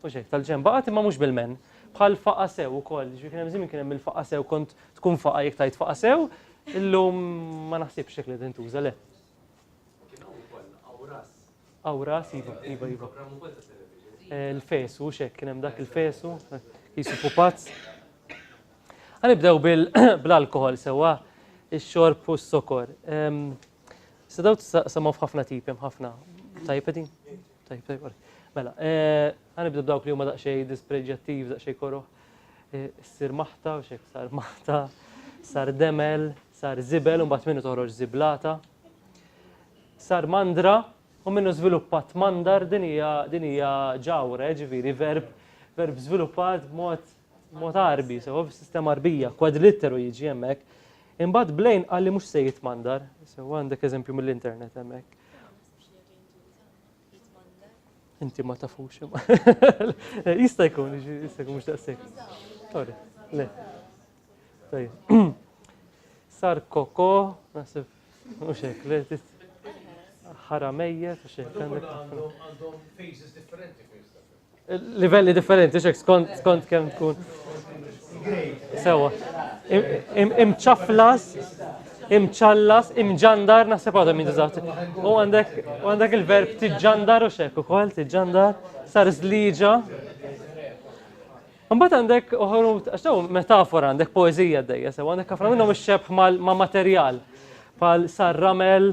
Mhux hekk, tal-ġenba qatt imma mhux bil-menn. Bħal faqa' sew ukoll, jiġifieri kien hemm żmien kien hemm il-faqa' sew kont tkun faqa' jekk tgħid faqa' sew, illum ma naħsibx hekk li qed intuża, le. Kien hawn ukoll Awras. Awras, iva, iva, iva. Programm ukoll ta' television. Il-fesu, hux hekk, kien hemm dak il-fesu, qisu pupazz. Ħa nibdew bl-alkoħol sewwa, ix-xorb u s-sokor. Issa dawn tistgħu tsemgħu f'ħafna tipi, hemm ħafna. Tajjeb qegħdin? Tajjeb, tajjeb, għalek. Mela, għanibdu eh, b'dawk li huma daqxej dispreġjattiv, daqxej koroħ. Eh, sir maħta, u xek sar maħta, sar demel, sar zibel, un minnu toħroġ ziblata. Sar mandra, u minnu zviluppat mandar din hija ġawra, eh, ġiviri, verb, verb zviluppat mod mod arbi, sewa sistema arbija, kwadlitteru jiġi hemmhekk. Imbagħad blejn għalli mhux se jitmandar, sewa għandek eżempju mill-internet hemmhekk. Inti ma tafux. Jista' jkun, jista' jkun mhux daqshekk. Sorry, le. Tajjeb. Sar koko, naħseb mhux hekk, le ħara mejjet u xejn. Għandhom phases differenti Livelli differenti xek skont skont kemm tkun. Sewa. Imċaflas, imċallas, imġandar, naħseb għadhom jintużaw. U għandek u għandek il-verb tiġġandar u xek ukoll tiġġandar, sar żliġa. Mbagħad għandek uħru għax dawn metafora għandek poeżija dejja sewa għandek ħafna minnhom ix-xebħ ma' materjal bħal sar ramel,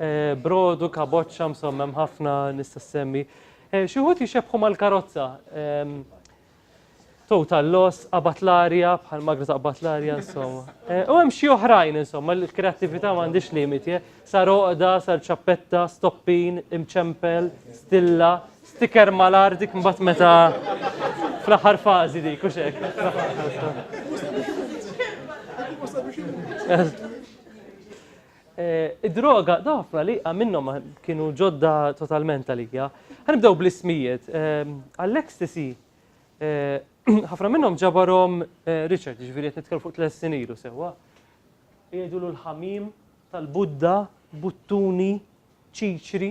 Eh, brodu, kaboċċa, msommem ħafna nista' semmi. Eh, xi wħud jixebħu mal-karozza. Ehm, total loss, qabat l-arja, bħal magna taqbad l-arja, insomma. Eh, u hemm xi oħrajn, insomma, l-kreattività m'għandix limiti, sar oqda, sar ċappetta, stoppin, imċempel, stilla, Sticker malar dik mbagħad meta fl-aħħar fażi dik u xek. Eh, id-droga, dafna li minnhom kienu ġodda totalment għalija. Għanibdew bl-ismijiet. Ehm, Għall-ecstasy, eh, ħafna minnhom ġabarhom eh, Richard, ġifieri qed nitkellmu fuq tles sinilu sewwa. Jgħidulu l-ħamim tal-Budda, buttuni, ċiċri,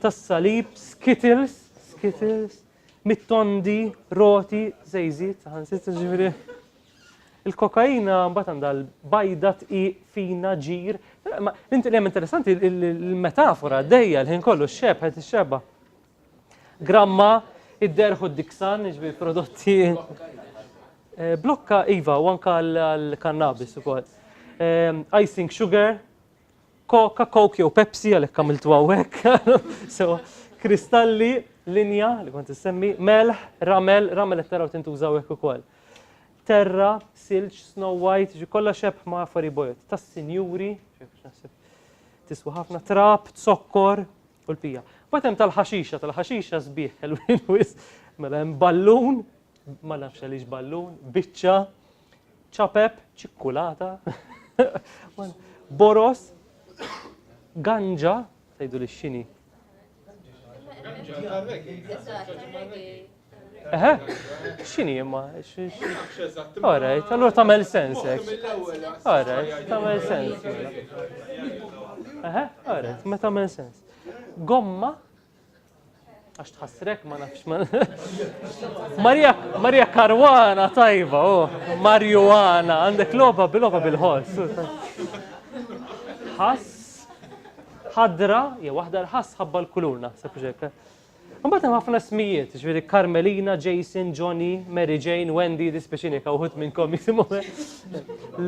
tas-salib, skittles, skittles, mit-tondi, roti, zejzit, saħansitza ġifieri. Il-kokaina mbagħad għandha l-bajda tqiq fina ġir. Inti li hemm interessanti il-metafora dejja l-ħin kollu x-xeb ħed ix-xeba. Gramma id-derħu d-diksan, ġifieri prodotti. Eh, blokka iva u anka l-kannabis ukoll. Eh, icing sugar, Coca, Coke jew Pepsi għalhekk għamiltu hawnhekk. so, kristalli, linja li kont issemmi, melħ, ramel, ramel qed taraw tintuża hawnhekk ukoll. Terra, silġ, snow white, ġi kollha xebħ ma' affari bojot. Tas-sinjuri, tiswa ħafna trap, zokkor u l-pija. Batem tal-ħaxixa, tal-ħaxixa sbieħ, l-win wis, mela hemm ballun, ma nafx għaliex ballun, biċċa, ċapep, ċikkulata, boros, ganġa, tgħidu li x'inhi. Eħe, x'inhi imma? Alright, allura tagħmel sens hekk. Alright, tagħmel sens. Eħe, alright, ma tagħmel sens. Gomma, Għax tħassrek ma nafx ma. Maria, Maria Karwana tajba, oh, Marjuana, għandek loba bil-loba bil-ħoss. Ħass, ħadra, jew waħda l-ħass ħabba l-kulur naħseb ġek. Mbagħad hemm ħafna smijiet, ġifieri Carmelina, Jason, Johnny, Mary Jane, Wendy, dispeċini kawħut minnkom jisimhom.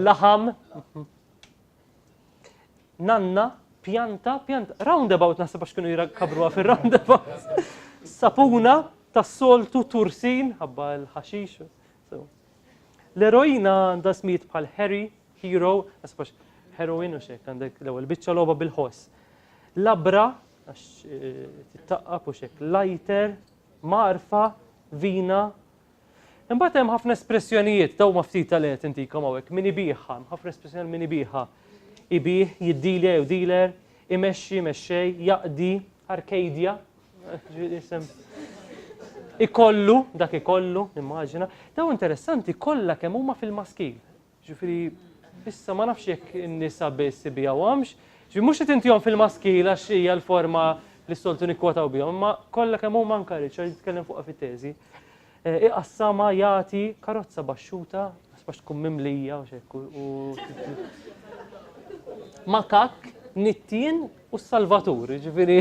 Laħam. nanna, pjanta, pjanta, roundabout naħseb għax kienu jrakabruha fir-roundabout. Sapuna, tas-soltu, tursin, ħabba l-ħaxix. L-eroina għandha smijiet bħal Harry, Hero, għasbax heroin u xek, għandek l-ewwel biċċa logħba bil-ħoss. Labra, għax eh, tittaqqab u xek, lighter, marfa, vina, Imbagħad hemm ħafna espressjonijiet, daw ma ftit tal qed intikom hawnhekk, min ibigħha, ħafna espressjoni min ibigħha. Ibih, jiddilja jew dealer, imexxi, mexxej, jaqdi, arkadia, ikollu, dak ikollu, nimmaġina. Daw interessanti kollha kemm huma fil-maskil. Jiġifieri issa ma nafx jekk in-nisa biss isibiha u hemmx, ġifieri mhux qed intihom fil-maskil għax hija l-forma li s-soltu nikkwotaw bihom, imma kollha kemm huma anke Richard jitkellem fuqha fit-teżi. Eh, iqassamha, jagħti, karozza baxxuta, għax tkun mimlija u xekk u. Makak, nittien u salvatur, ġifieri.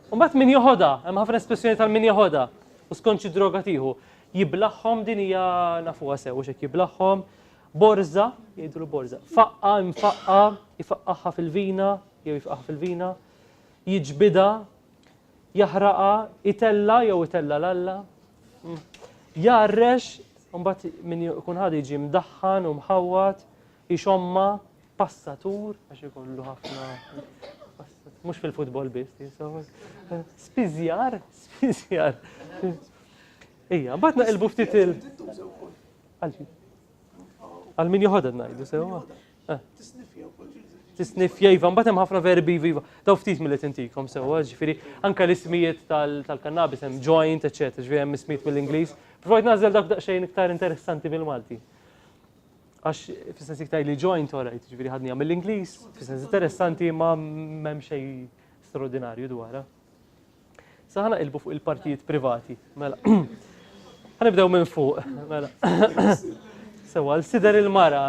Mbagħad min joħodha, hemm ħafna espressjoni tal-min joħodha u skont xi droga tieħu. Jiblaħħom din hija nafuha sew hekk jiblaħħom. Borza, jgħidulu borza. Faqqa, mfaqqa, jfaqqaħħa fil-vina, jew jfaqqaħ fil-vina. Jiġbida, jaħraqa, itella jew itella l-alla. Mm. Jarrex, mbagħad min jkun ħad jiġi mdaħħan u mħawwat, jixomma, passatur għax ikollu ħafna mhux fil-futbol biss tinsawek. Spiżjar, spiżjar. Ija, bat naqilbu ftit il. Għal min joħodha ngħidu sewwa. Eh. Tisnif jajva, mbagħad hemm ħafna verbi viva. Daw ftit mill-li tintikom sewwa, ġifieri anke l-ismijiet tal-kannabis hemm joint, eċetera, ġifieri hemm ismijiet mill-Ingliż. Provajt nażel dak daqsxejn iktar interessanti bil-Malti. Għax fis-sens iktar li joint, alright, ġifieri ħadni għamil l-Ingliż, fis-sens interessanti ma m'hemm xejn straordinarju dwarha. Sa ħana ilbu fuq il-partijiet privati. Mela. Ħanibdew minn fuq. Mela. Sewa, l-sider il-mara.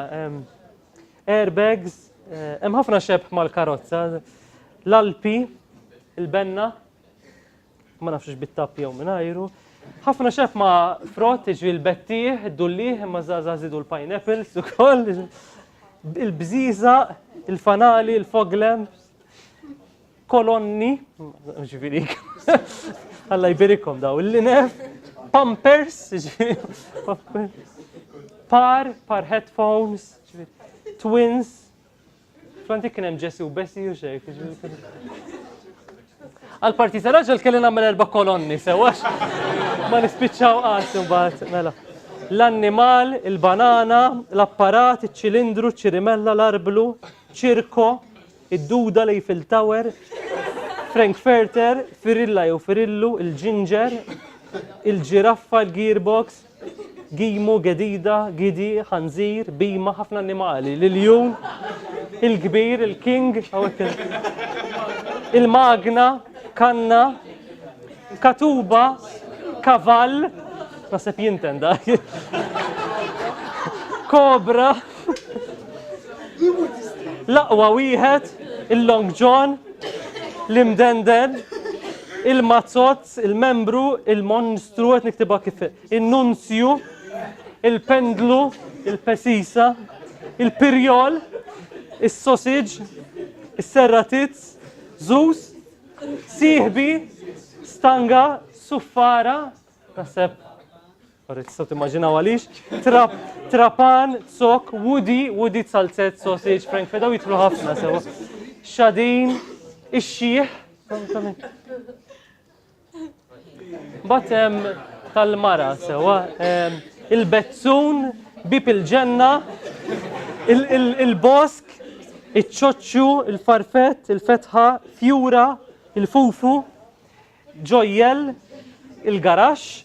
Airbags, eh, hemm ħafna xebħ mal-karozza. L-alpi, il-benna, ma nafx bit-tapp jew mingħajru. Ħafna xef ma' frott, iġri l-bettieħ, id-dullieħ, imma żgħażagħ żidu l-pineapples ukoll, il-bżiża, il-fanali, il-foglem, kolonni, ġifieri, Alla jbirikom daw, il-linef, pampers, par, par headphones, twins, Kwanti kien hemm Ġesu, Bessi u xejk. Għal-parti ta' raġel kelli nagħmel erba' kolonni, sewax ma nispiċċaw qatt imbagħad mela. L-annimal, il-banana, l-apparat, iċ-ċilindru, ċirimella, l-arblu, ċirko, id-duda li fil Tower, Frankfurter, firilla jew firillu, il-ġinġer, il-ġiraffa, il-gearbox, Gimu, gedida, gidi, ħanżir, bhima, ħafna annimali, l-iljun, il-kbir, il-king, il-magna, kanna, katuba, kavall, naħseb jinten da, kobra, laqwa wieħed, il-long john, l-imdenden, il-mazzot, il-membru, il-monstru, qed niktibha kif in-nunzju, il-pendlu, il-pesisa, il-pirjol, is-sosiġ, is-serratizz, żuż, sieħbi, stanga, suffara, naħseb Sorry, tistgħu timmaġinaw għaliex. Trap, trapan, sok, woody, woody salzet, sausage, frank fedaw jitlu ħafna sewa. Xadin, ix-xieħ. Batem tal-mara sewa. Il-bezzun, bib il-ġenna, il-bosk, iċ-ċoċċu, il-farfet, il-fetħa, fjura, il-fufu, ġojjel, il-garax,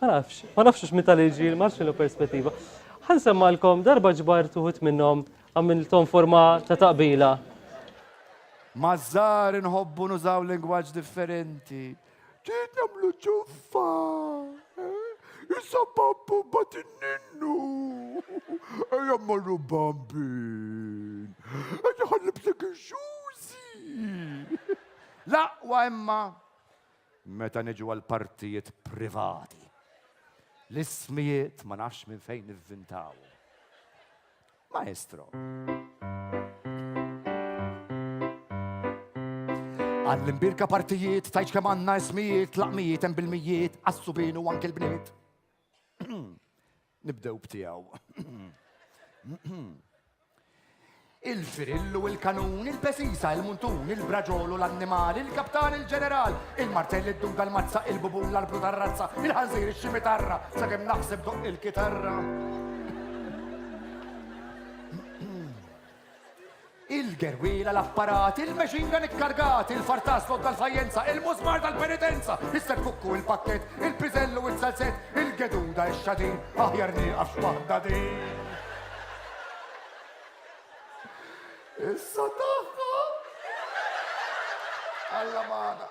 Ma nafx, ma nafx hux meta li ġil, ma nafx x'inhu perspettiva. Ħan semmalkom darba ġbar tuħut minnhom għamilthom forma ta' taqbila. Maż-żgħar inħobbu nużaw lingwaġġ differenti. Trid nagħmlu ċuffa, eh? issa babbu bat in-ninnu. Ejja mmorru bambin. Ejja ħallibsek ix-xużi. L-aqwa imma Meta niġu għall-partijiet privati, l-ismijiet ma nafx minn fejn nivvintawhom. Maestro. Għall-imbirka partijiet, tajċ kem għanna ismijiet, laqmijiet, hemm bil-mijiet, għassu binu anke l-bniet. Nibdew b'tiegħu. Il-firillu, il-kanun, il-pesisa, il-muntun, il-braġolu, l-annimal, il-kaptan, il-ġeneral, il-martell, id-duga, l-mazza, il-bubun, l-arbru tar-razza, il-ħanżir, ix-ximitarra, sa' kemm naħseb doq il-kitarra. Il-gerwiela, l-apparat, il-machine gun ikkargat, il-far tas-sod tal-fajjenza, il-mużmar tal-penitenza, is-serkukku, il-pakkett, il-piżell u s-salzett, il-geduda, ix-xadin, aħjar nieqaf x'waħda din. Issa tagħha! Alla magħna!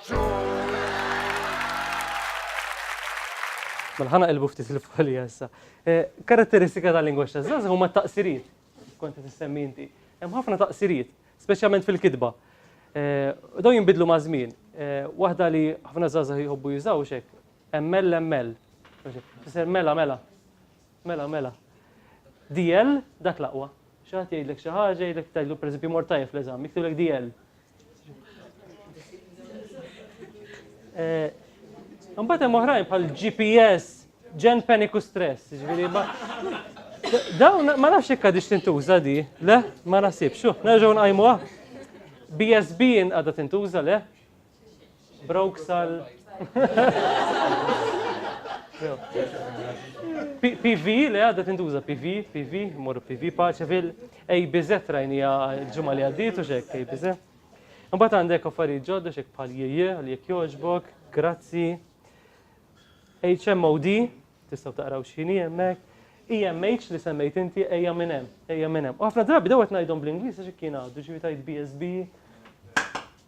Mela ħa naqilbu ftit il-folja issa. Eh, karatteristika tal-lingwaġġ taż-żgħażagħ huma t-taqsiriet. Kont qed issemmi inti. Hemm ħafna taqsiriet, speċjalment fil-kitba. Eh, dawn jinbidlu ma' żmien. Eh, waħda li ħafna żgħażagħ jħobbu jużaw xek, emmell emmell. Fisser mela mela. Mela mela. DL dak l-aqwa. Xi ħadd jgħidlek xi ħaġa, jgħidlek tgħidlu pereżempju mor tajjeb fl-eżam, jiktulek DL. Eh, Mbagħad hemm oħrajn bħal GPS, ġen paniku stress, ġifieri ma. Dawn ma nafx hekk għadix tintuża di, le, ma nasibx, xu, nerġgħu nqajmuha. BSB għadha tintuża le. Broke sal. PV li għadda tintuża PV, PV, morru PV paċa fil ABZ rajnija ġumma li għaddit u xek ABZ. Mbagħad għandek affarijiet ġodda xek bħal jieje li jekk jogħġbok, grazzi. HMOD, tistgħu taqraw x'inhi hemmhekk. EMH li semmejt inti ejja minn hemm, ejja minn hemm. U ħafna drabi dawet ngħidhom bl-Ingliż għax kien għaddu ġifi tajt BSB.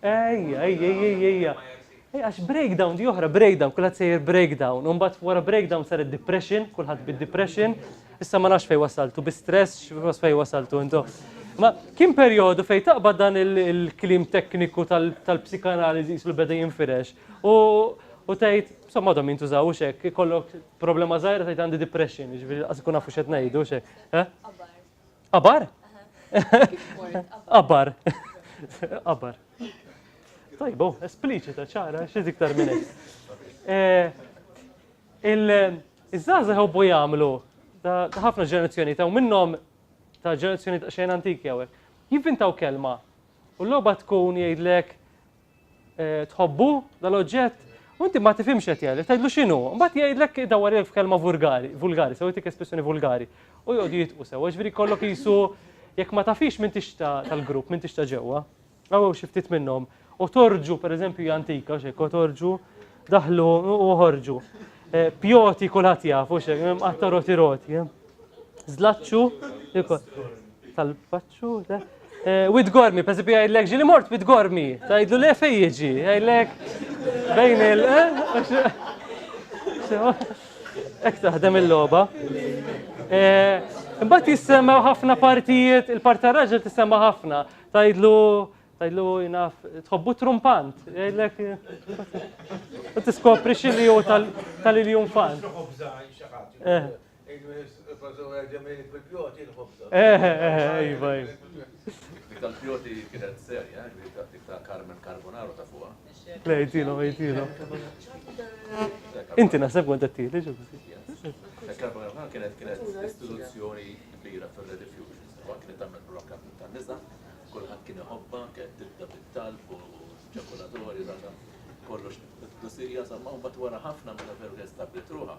Ejja, ejja, ejja, ejja, ejja. Ej, għax breakdown di oħra, breakdown, kulħadd sejjer breakdown. U mbagħad wara breakdown saret depression, kulħadd bid-depression. Issa ma nafx fejn wasaltu, bi stress, x'was fejn wasaltu intu. Ma kien perjodu fejn taqbad dan il- il-klim tekniku tal- tal-psikanaliżi jisu li beda jinfirex. U u tgħid, insomma għadhom jintużawux hekk, ikollok problema żgħira tgħid għandi depression, jiġifieri qas ikun nafu x'qed ngħidu x'hekk. Eh? Qabar? Qabar. Qabar. Tajbo, espliċita ċara, xi iktar minn hekk. Eh, Il-żaza ħobbu jagħmlu ta' ħafna ġenerazzjoni ta' minnhom ta' ġenerazzjoni ta' xejn antiki hawnhekk. Jivvintaw kelma u l-logħba tkun jgħidlek tħobbu dal-oġġett, u inti ma tifhimx qed jgħidlek, tgħidlu x'inhu, mbagħad jgħidlek dawwar jgħidlek f'kelma vulgari, vulgari, sew jtik espressjoni vulgari, u jgħodu jitqu sew, ġifieri kollok qisu jekk ma tafix minn tix tal-grupp, minn tix ta' ġewwa, għaw xi ftit minnhom, u torġu pereżempju hija antika, xejk torġu, daħlu u ħorġu. Eh, pjoti kulħadd jaf, u xejk, qatta roti roti. Eh. Zlaċċu, tal-paċċ. Wid gormi, per esempio jgħidlek ġili mort wid gormi, tgħidlu le fej jiġi, jgħidlek bejn il- Ek taħdem il-loba. Imbagħad jissemma ħafna partijiet, il-part tar-raġel tissemma ħafna. Tgħidlu tgħidlu jnaf tħobbu trumpant, jgħidlek tiskopri xi li hu tal-iljun fan. Eħe, eħe, iva, iva. Dik tal-fjoti kienet serja, dik ta' dik ta' Carmen Carbonaro ta' fuqa. Le, jtilo, jtilo. Inti naħseb kont qed tieli ġo biżi. Carbonaro kienet kienet istituzzjoni kbira fir-Ready Fusions, u kienet tagħmel program ta' nisa, kulħadd kien iħobba, kienet tibda bit-talb u ċokolatori, kollox dusija, sa' ma' wara ħafna meta veru kien stabbiet ruħa,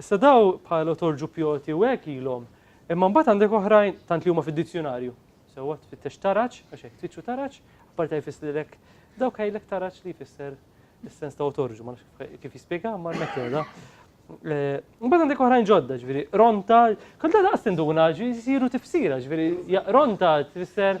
Issa daw bħal otorġu pjoti u hekk ilhom. Imma mbagħad għandek oħrajn tant li huma fid-dizzjunarju. Sewwa tfittex taraġ, għax hekk tfittxu taraġ, apparti għaj fisslilek dawk għajlek taraġ li jfisser is-sens ta' otorġu, ma nafx kif jispjega ma l-metoda. Mbagħad għandek oħrajn ġodda, ġifieri ronta, kont la daqs tinduna, ġifieri jsiru tifsira, ġifieri ronta tfisser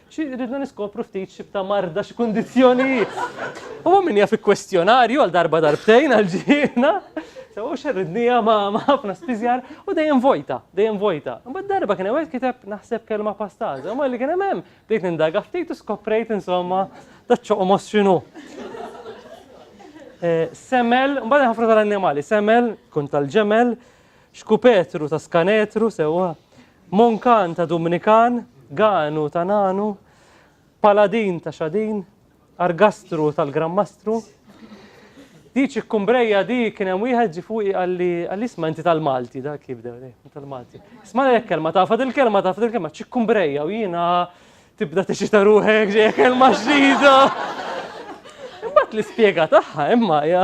Xi rridna niskopru ftit xibta marda xi kundizzjonijiet. U min jaf ikkwestjonarju għal darba darbtejn għal ġiena. So u xerridnija ma ħafna spiżjar u dejjem vojta, dejjem vojta. Mbagħad darba kien hemm kiteb naħseb kelma pastaża, ma li kien hemm hemm bdejt nindaga ftit u skoprejt insomma da ċoqmos x'inhu. Eh, semel, mbagħad ħafna tal-annimali, semel, kun tal-ġemel, xkupetru ta' skanetru sewwa. Monkan ta' Dumnikan, Ganu ta' Nanu, Paladin ta' Xadin, Argastru tal-Gran Mastru. Di ċikkumbrejja di kien hemm wieħed ġi fuqi qalli qalli isma' inti tal-Malti dak jibdew li tal-Malti. Isma' lek kelma taf il kelma taf il kelma ċikkumbrejja u jiena tibda tiċita ruħek ġejja kelma xdida. Imbagħad l-ispjega tagħha imma hija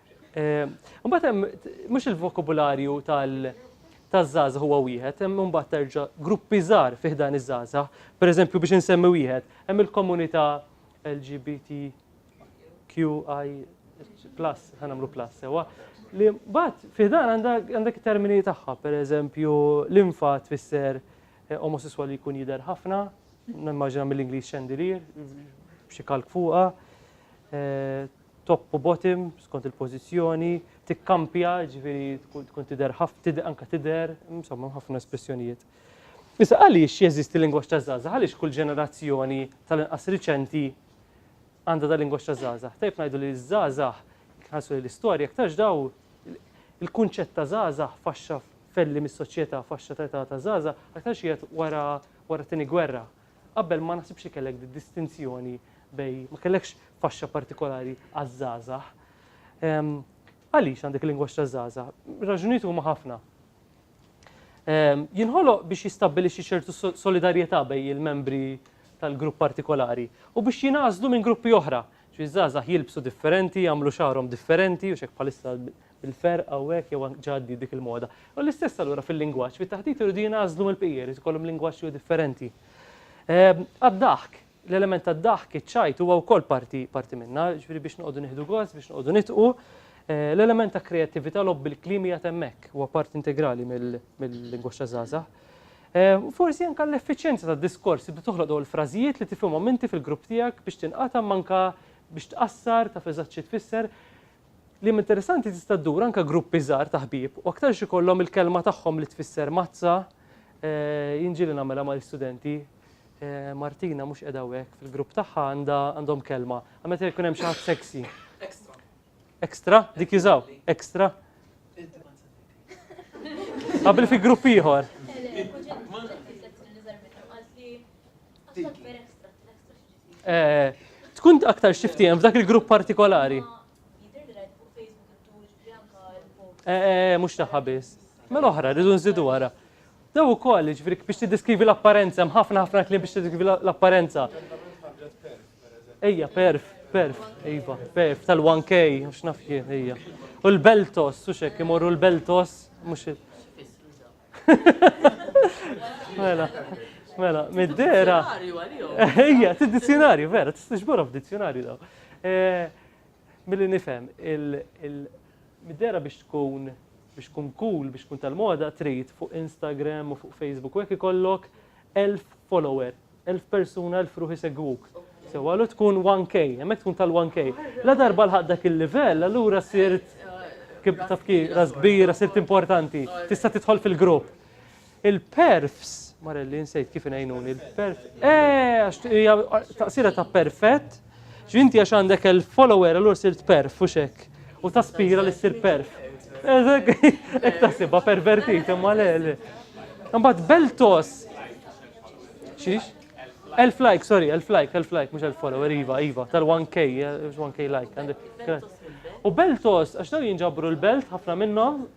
Imbagħad hemm mhux il-vokabularju taż-żgħażagħ huwa wieħed, hemm imbagħad terġa' gruppi żgħar fih dan iż-żgħażagħ. Pereżempju biex insemmi wieħed, hemm il-komunità LGBT QI plus, ħa nagħmlu plus sewwa, li mbagħad fih dan għandek termini tagħha, pereżempju l-infa tfisser eh, omosessual li jkun jidher ħafna, nimmaġina mill-Ingliż xandelier, xi kalk fuqha, eh, top u bottom skont il-pożizzjoni, tikkampja, jiġifieri tkun tidher anke tidher, insomma hemm ħafna espressjonijiet. Issa għaliex jeżisti lingwaġġ taż-żgħażagħ? Għaliex kull ġenerazzjoni tal-inqas riċenti għandha dal-lingwaġġ taż-żgħażagħ? Tajjeb ngħidu li ż-żgħażagħ, jekk nħarsu lejn l-istorja, iktarx daw il-kunċett ta' żgħażagħ faxxa f'elli mis-soċjetà, faxxa ta' età ta' żgħażagħ, aktarx qiegħed wara t-Tieni Gwerra. Qabel ma naħsibx li kellek distinzjoni bejn, ma kellekx faxxa partikolari għaż-żgħażagħ. Għaliex għandek il-lingwaġġ taż-żgħażagħ? Raġunijiet huma ħafna. Jinħoloq biex jistabbilixxi ċertu solidarjetà bejn il-membri tal-grupp partikolari u biex jingħażlu minn gruppi oħra. Ġifieri żgħażagħ jilbsu differenti, jagħmlu xagħarhom differenti u x'hekk bħalissa il-ferq hawnhekk jew anke ġa għaddiet dik il-moda. U l-istess allura fil-lingwaġġ, fit-taħdit iridu jingħażlu mill-bqija, jrid ikollhom lingwaġġ jew differenti. Ehm, għad-daħk, l-element tad-daħk, iċ-ċajt huwa wkoll parti parti minna, ġifieri biex noqogħdu nieħdu gost, biex noqogħdu nitqu. Eh, l-element ta' kreattività lob bil-klimi għad hemmhekk huwa parti integrali mill-lingwaġġ ta' żgħażagħ. Eh, forsi anke l-effiċjenza tad-diskors tibda toħloq dawn il-frażijiet li tifhimhom inti fil-grupp tiegħek biex tinqata' manka biex tqassar ta' feżaċċi tfisser Kliem interessanti tista' ddur anke gruppi żgħar ta' ħbieb u aktarx ikollhom il-kelma tagħhom li tfisser mazza, jien ġieli nagħmilha mal-istudenti, Martina mhux qiegħda hawnhekk fil-grupp tagħha għandha għandhom kelma, għal meta jkun hemm xi ħadd sexy. Extra. Extra? Dik jużaw? Extra? Qabel fi grupp ieħor. Tkun aktar xiftijem f'dak il-grupp partikolari. Mux taħħa biss. Mela oħra, rridu nżidu wara. Daw u koll, ġifri, biex t-diskrivi l-apparenza, mħafna ħafna klim biex t-diskrivi l-apparenza. Ejja, perf, perf, ejba, perf, tal-1K, mux nafjien, ejja. U l-beltos, u xek, imorru l-beltos, mux Mela, mela, mid-dera. Ija, t-dizzjonarju, vera, t-iġborhom f'dizzjonarju daw. Eh, Mill-li nifem, mid-dera biex tkun biex tkun cool, biex tkun tal-moda, trid fuq Instagram u fuq Facebook, u jekk ikollok 1000 follower Elf persuna, elf ruħ isegwuk. Sewa, allura tkun 1K, hemmhekk tkun tal-1K. La darba lħaq dak il-livell, allura sirt taf kif ras kbira, sirt importanti, tista' tidħol fil-grupp. Il-perfs, marelli nsejt kif ngħinuni, il-perf, eh, għax hija taqsira ta' perfett, X'inti għax għandek il-follower allura sirt perf u xek. U taspira li ssir perf. Eżek, ek tasibha pervertit imma le le. Imbagħad Beltos. Xiex? Elf like, sorry, elf like, elf like, mhux elf follower, iva, iva, tal-1K, 1K eh, like. U Beltos, għax daw jinġabru l-belt ħafna minnhom,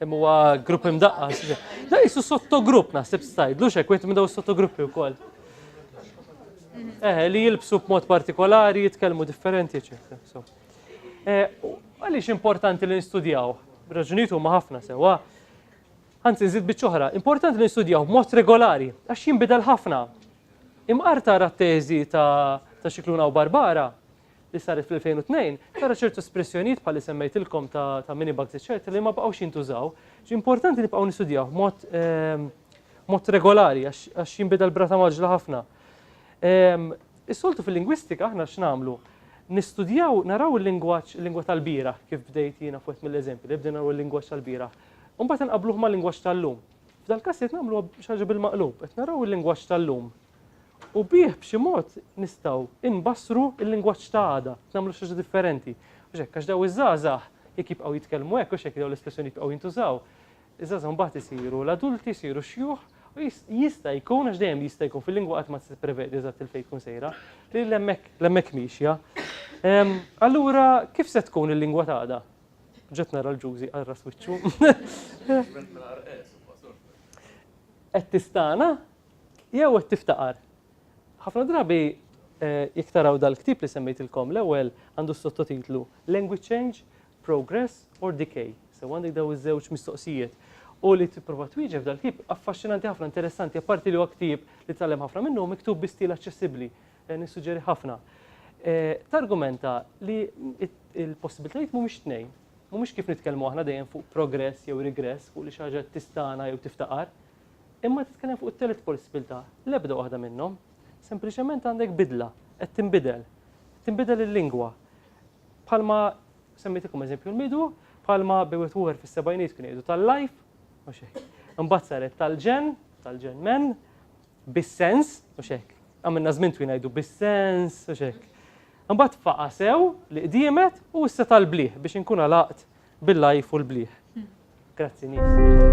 Hemm huwa grupp imdaqqas. Da jisu sottogrupp naħseb stajd, lux hekk minn daw sottogruppi wkoll. Eh, li jilbsu b'mod partikolari, jitkellmu differenti, eċetera. So. Eh, għaliex importanti li nistudjaw? Raġunijiet huma ħafna sewwa. Anzi, nżid biċċoħra, importanti li nistudjaw b'mod regolari, għax jinbidel ħafna. Imqarrta ara t-teżi ta' Xiklun Aw Barbara, li saret fl-2002, tara ċertu espressjonijiet bħal li semmejtilkom ta' mini bugs eċċetera li ma baqgħux jintużaw. Importanti nibqgħu nistudjawh b'mod regolari għax jinbidel b'rata mgħaġġla ħafna. Is-soltu fil-lingwistika aħna x'nagħmlu? Nistudjaw, naraw il-lingwaġġ, il-lingwa tal-bieraħ, kif bdejt jiena f'wieħed mill-eżempji, li bdejna naraw il-lingwaġġ tal-bieraħ, u mbagħad inqabbluh mal-lingwaġġ tal-lum. F'dal-każ qed nagħmlu xi ħaġa bil-maqlub, qed naraw il-lingwaġġ tal-lum u bih b'xi mod nistgħu nbassru l-lingwaġġ ta' għada, qed nagħmlu xi ħaġa differenti. Mhux hekk, għax daw iż-żgħażagħ jekk jibqgħu jitkellmu hekk, mhux hekk dawn l-espressjoni jibqgħu jintużaw, iż-żgħażagħ mbagħad isiru l-adulti, isiru x-xjuħ u jista' jkun, għax dejjem jista' jkun, fil-lingwa qatt ma tista' tipprevedi eżatt il-fejn tkun sejra, li l-hemmhekk miexja. Allura kif se tkun il-lingwa ta' għada? Ġiet nara l-ġużi għal ras wiċċu. Qed tistana jew qed tiftaqar. Ħafna drabi eh, jekk taraw dal-ktib li semmejtilkom l-ewwel għandu sottotitlu Language Change, Progress or Decay. Se għandek daw iż-żewġ mistoqsijiet. U li tipprova twieġeb dal-ktib affaxxinanti ħafna interessanti apparti li huwa ktib li tallem ħafna minnu miktub bi stil aċċessibbli Dan jissuġġeri ħafna. Targumenta li l-possibilitajiet mhumiex tnejn. Mhumiex kif nitkellmu aħna dejjem fuq progress jew regress, fuq li xi ħaġa tistana jew tiftaqar. Imma titkellem fuq it-telet possibilità, l-ebda waħda minnhom. Sempliċement għandek bidla, qed tinbidel. Tinbidel il-lingwa. Bħalma semmejtikom eżempju l-midu, bħalma bewet wuħer fis-sebgħinijiet kienu jgħidu tal-life, u xejn. Imbagħad saret tal-ġen, tal-ġen men, bis-sens, mhux hekk, għamilna żmien twil ngħidu bis-sens, mhux hekk. Imbagħad faqa' sew li qdiemet u issa tal-bliħ biex inkun għalaqt bil-lajf u l-bliħ. Hmm. Grazzi nies.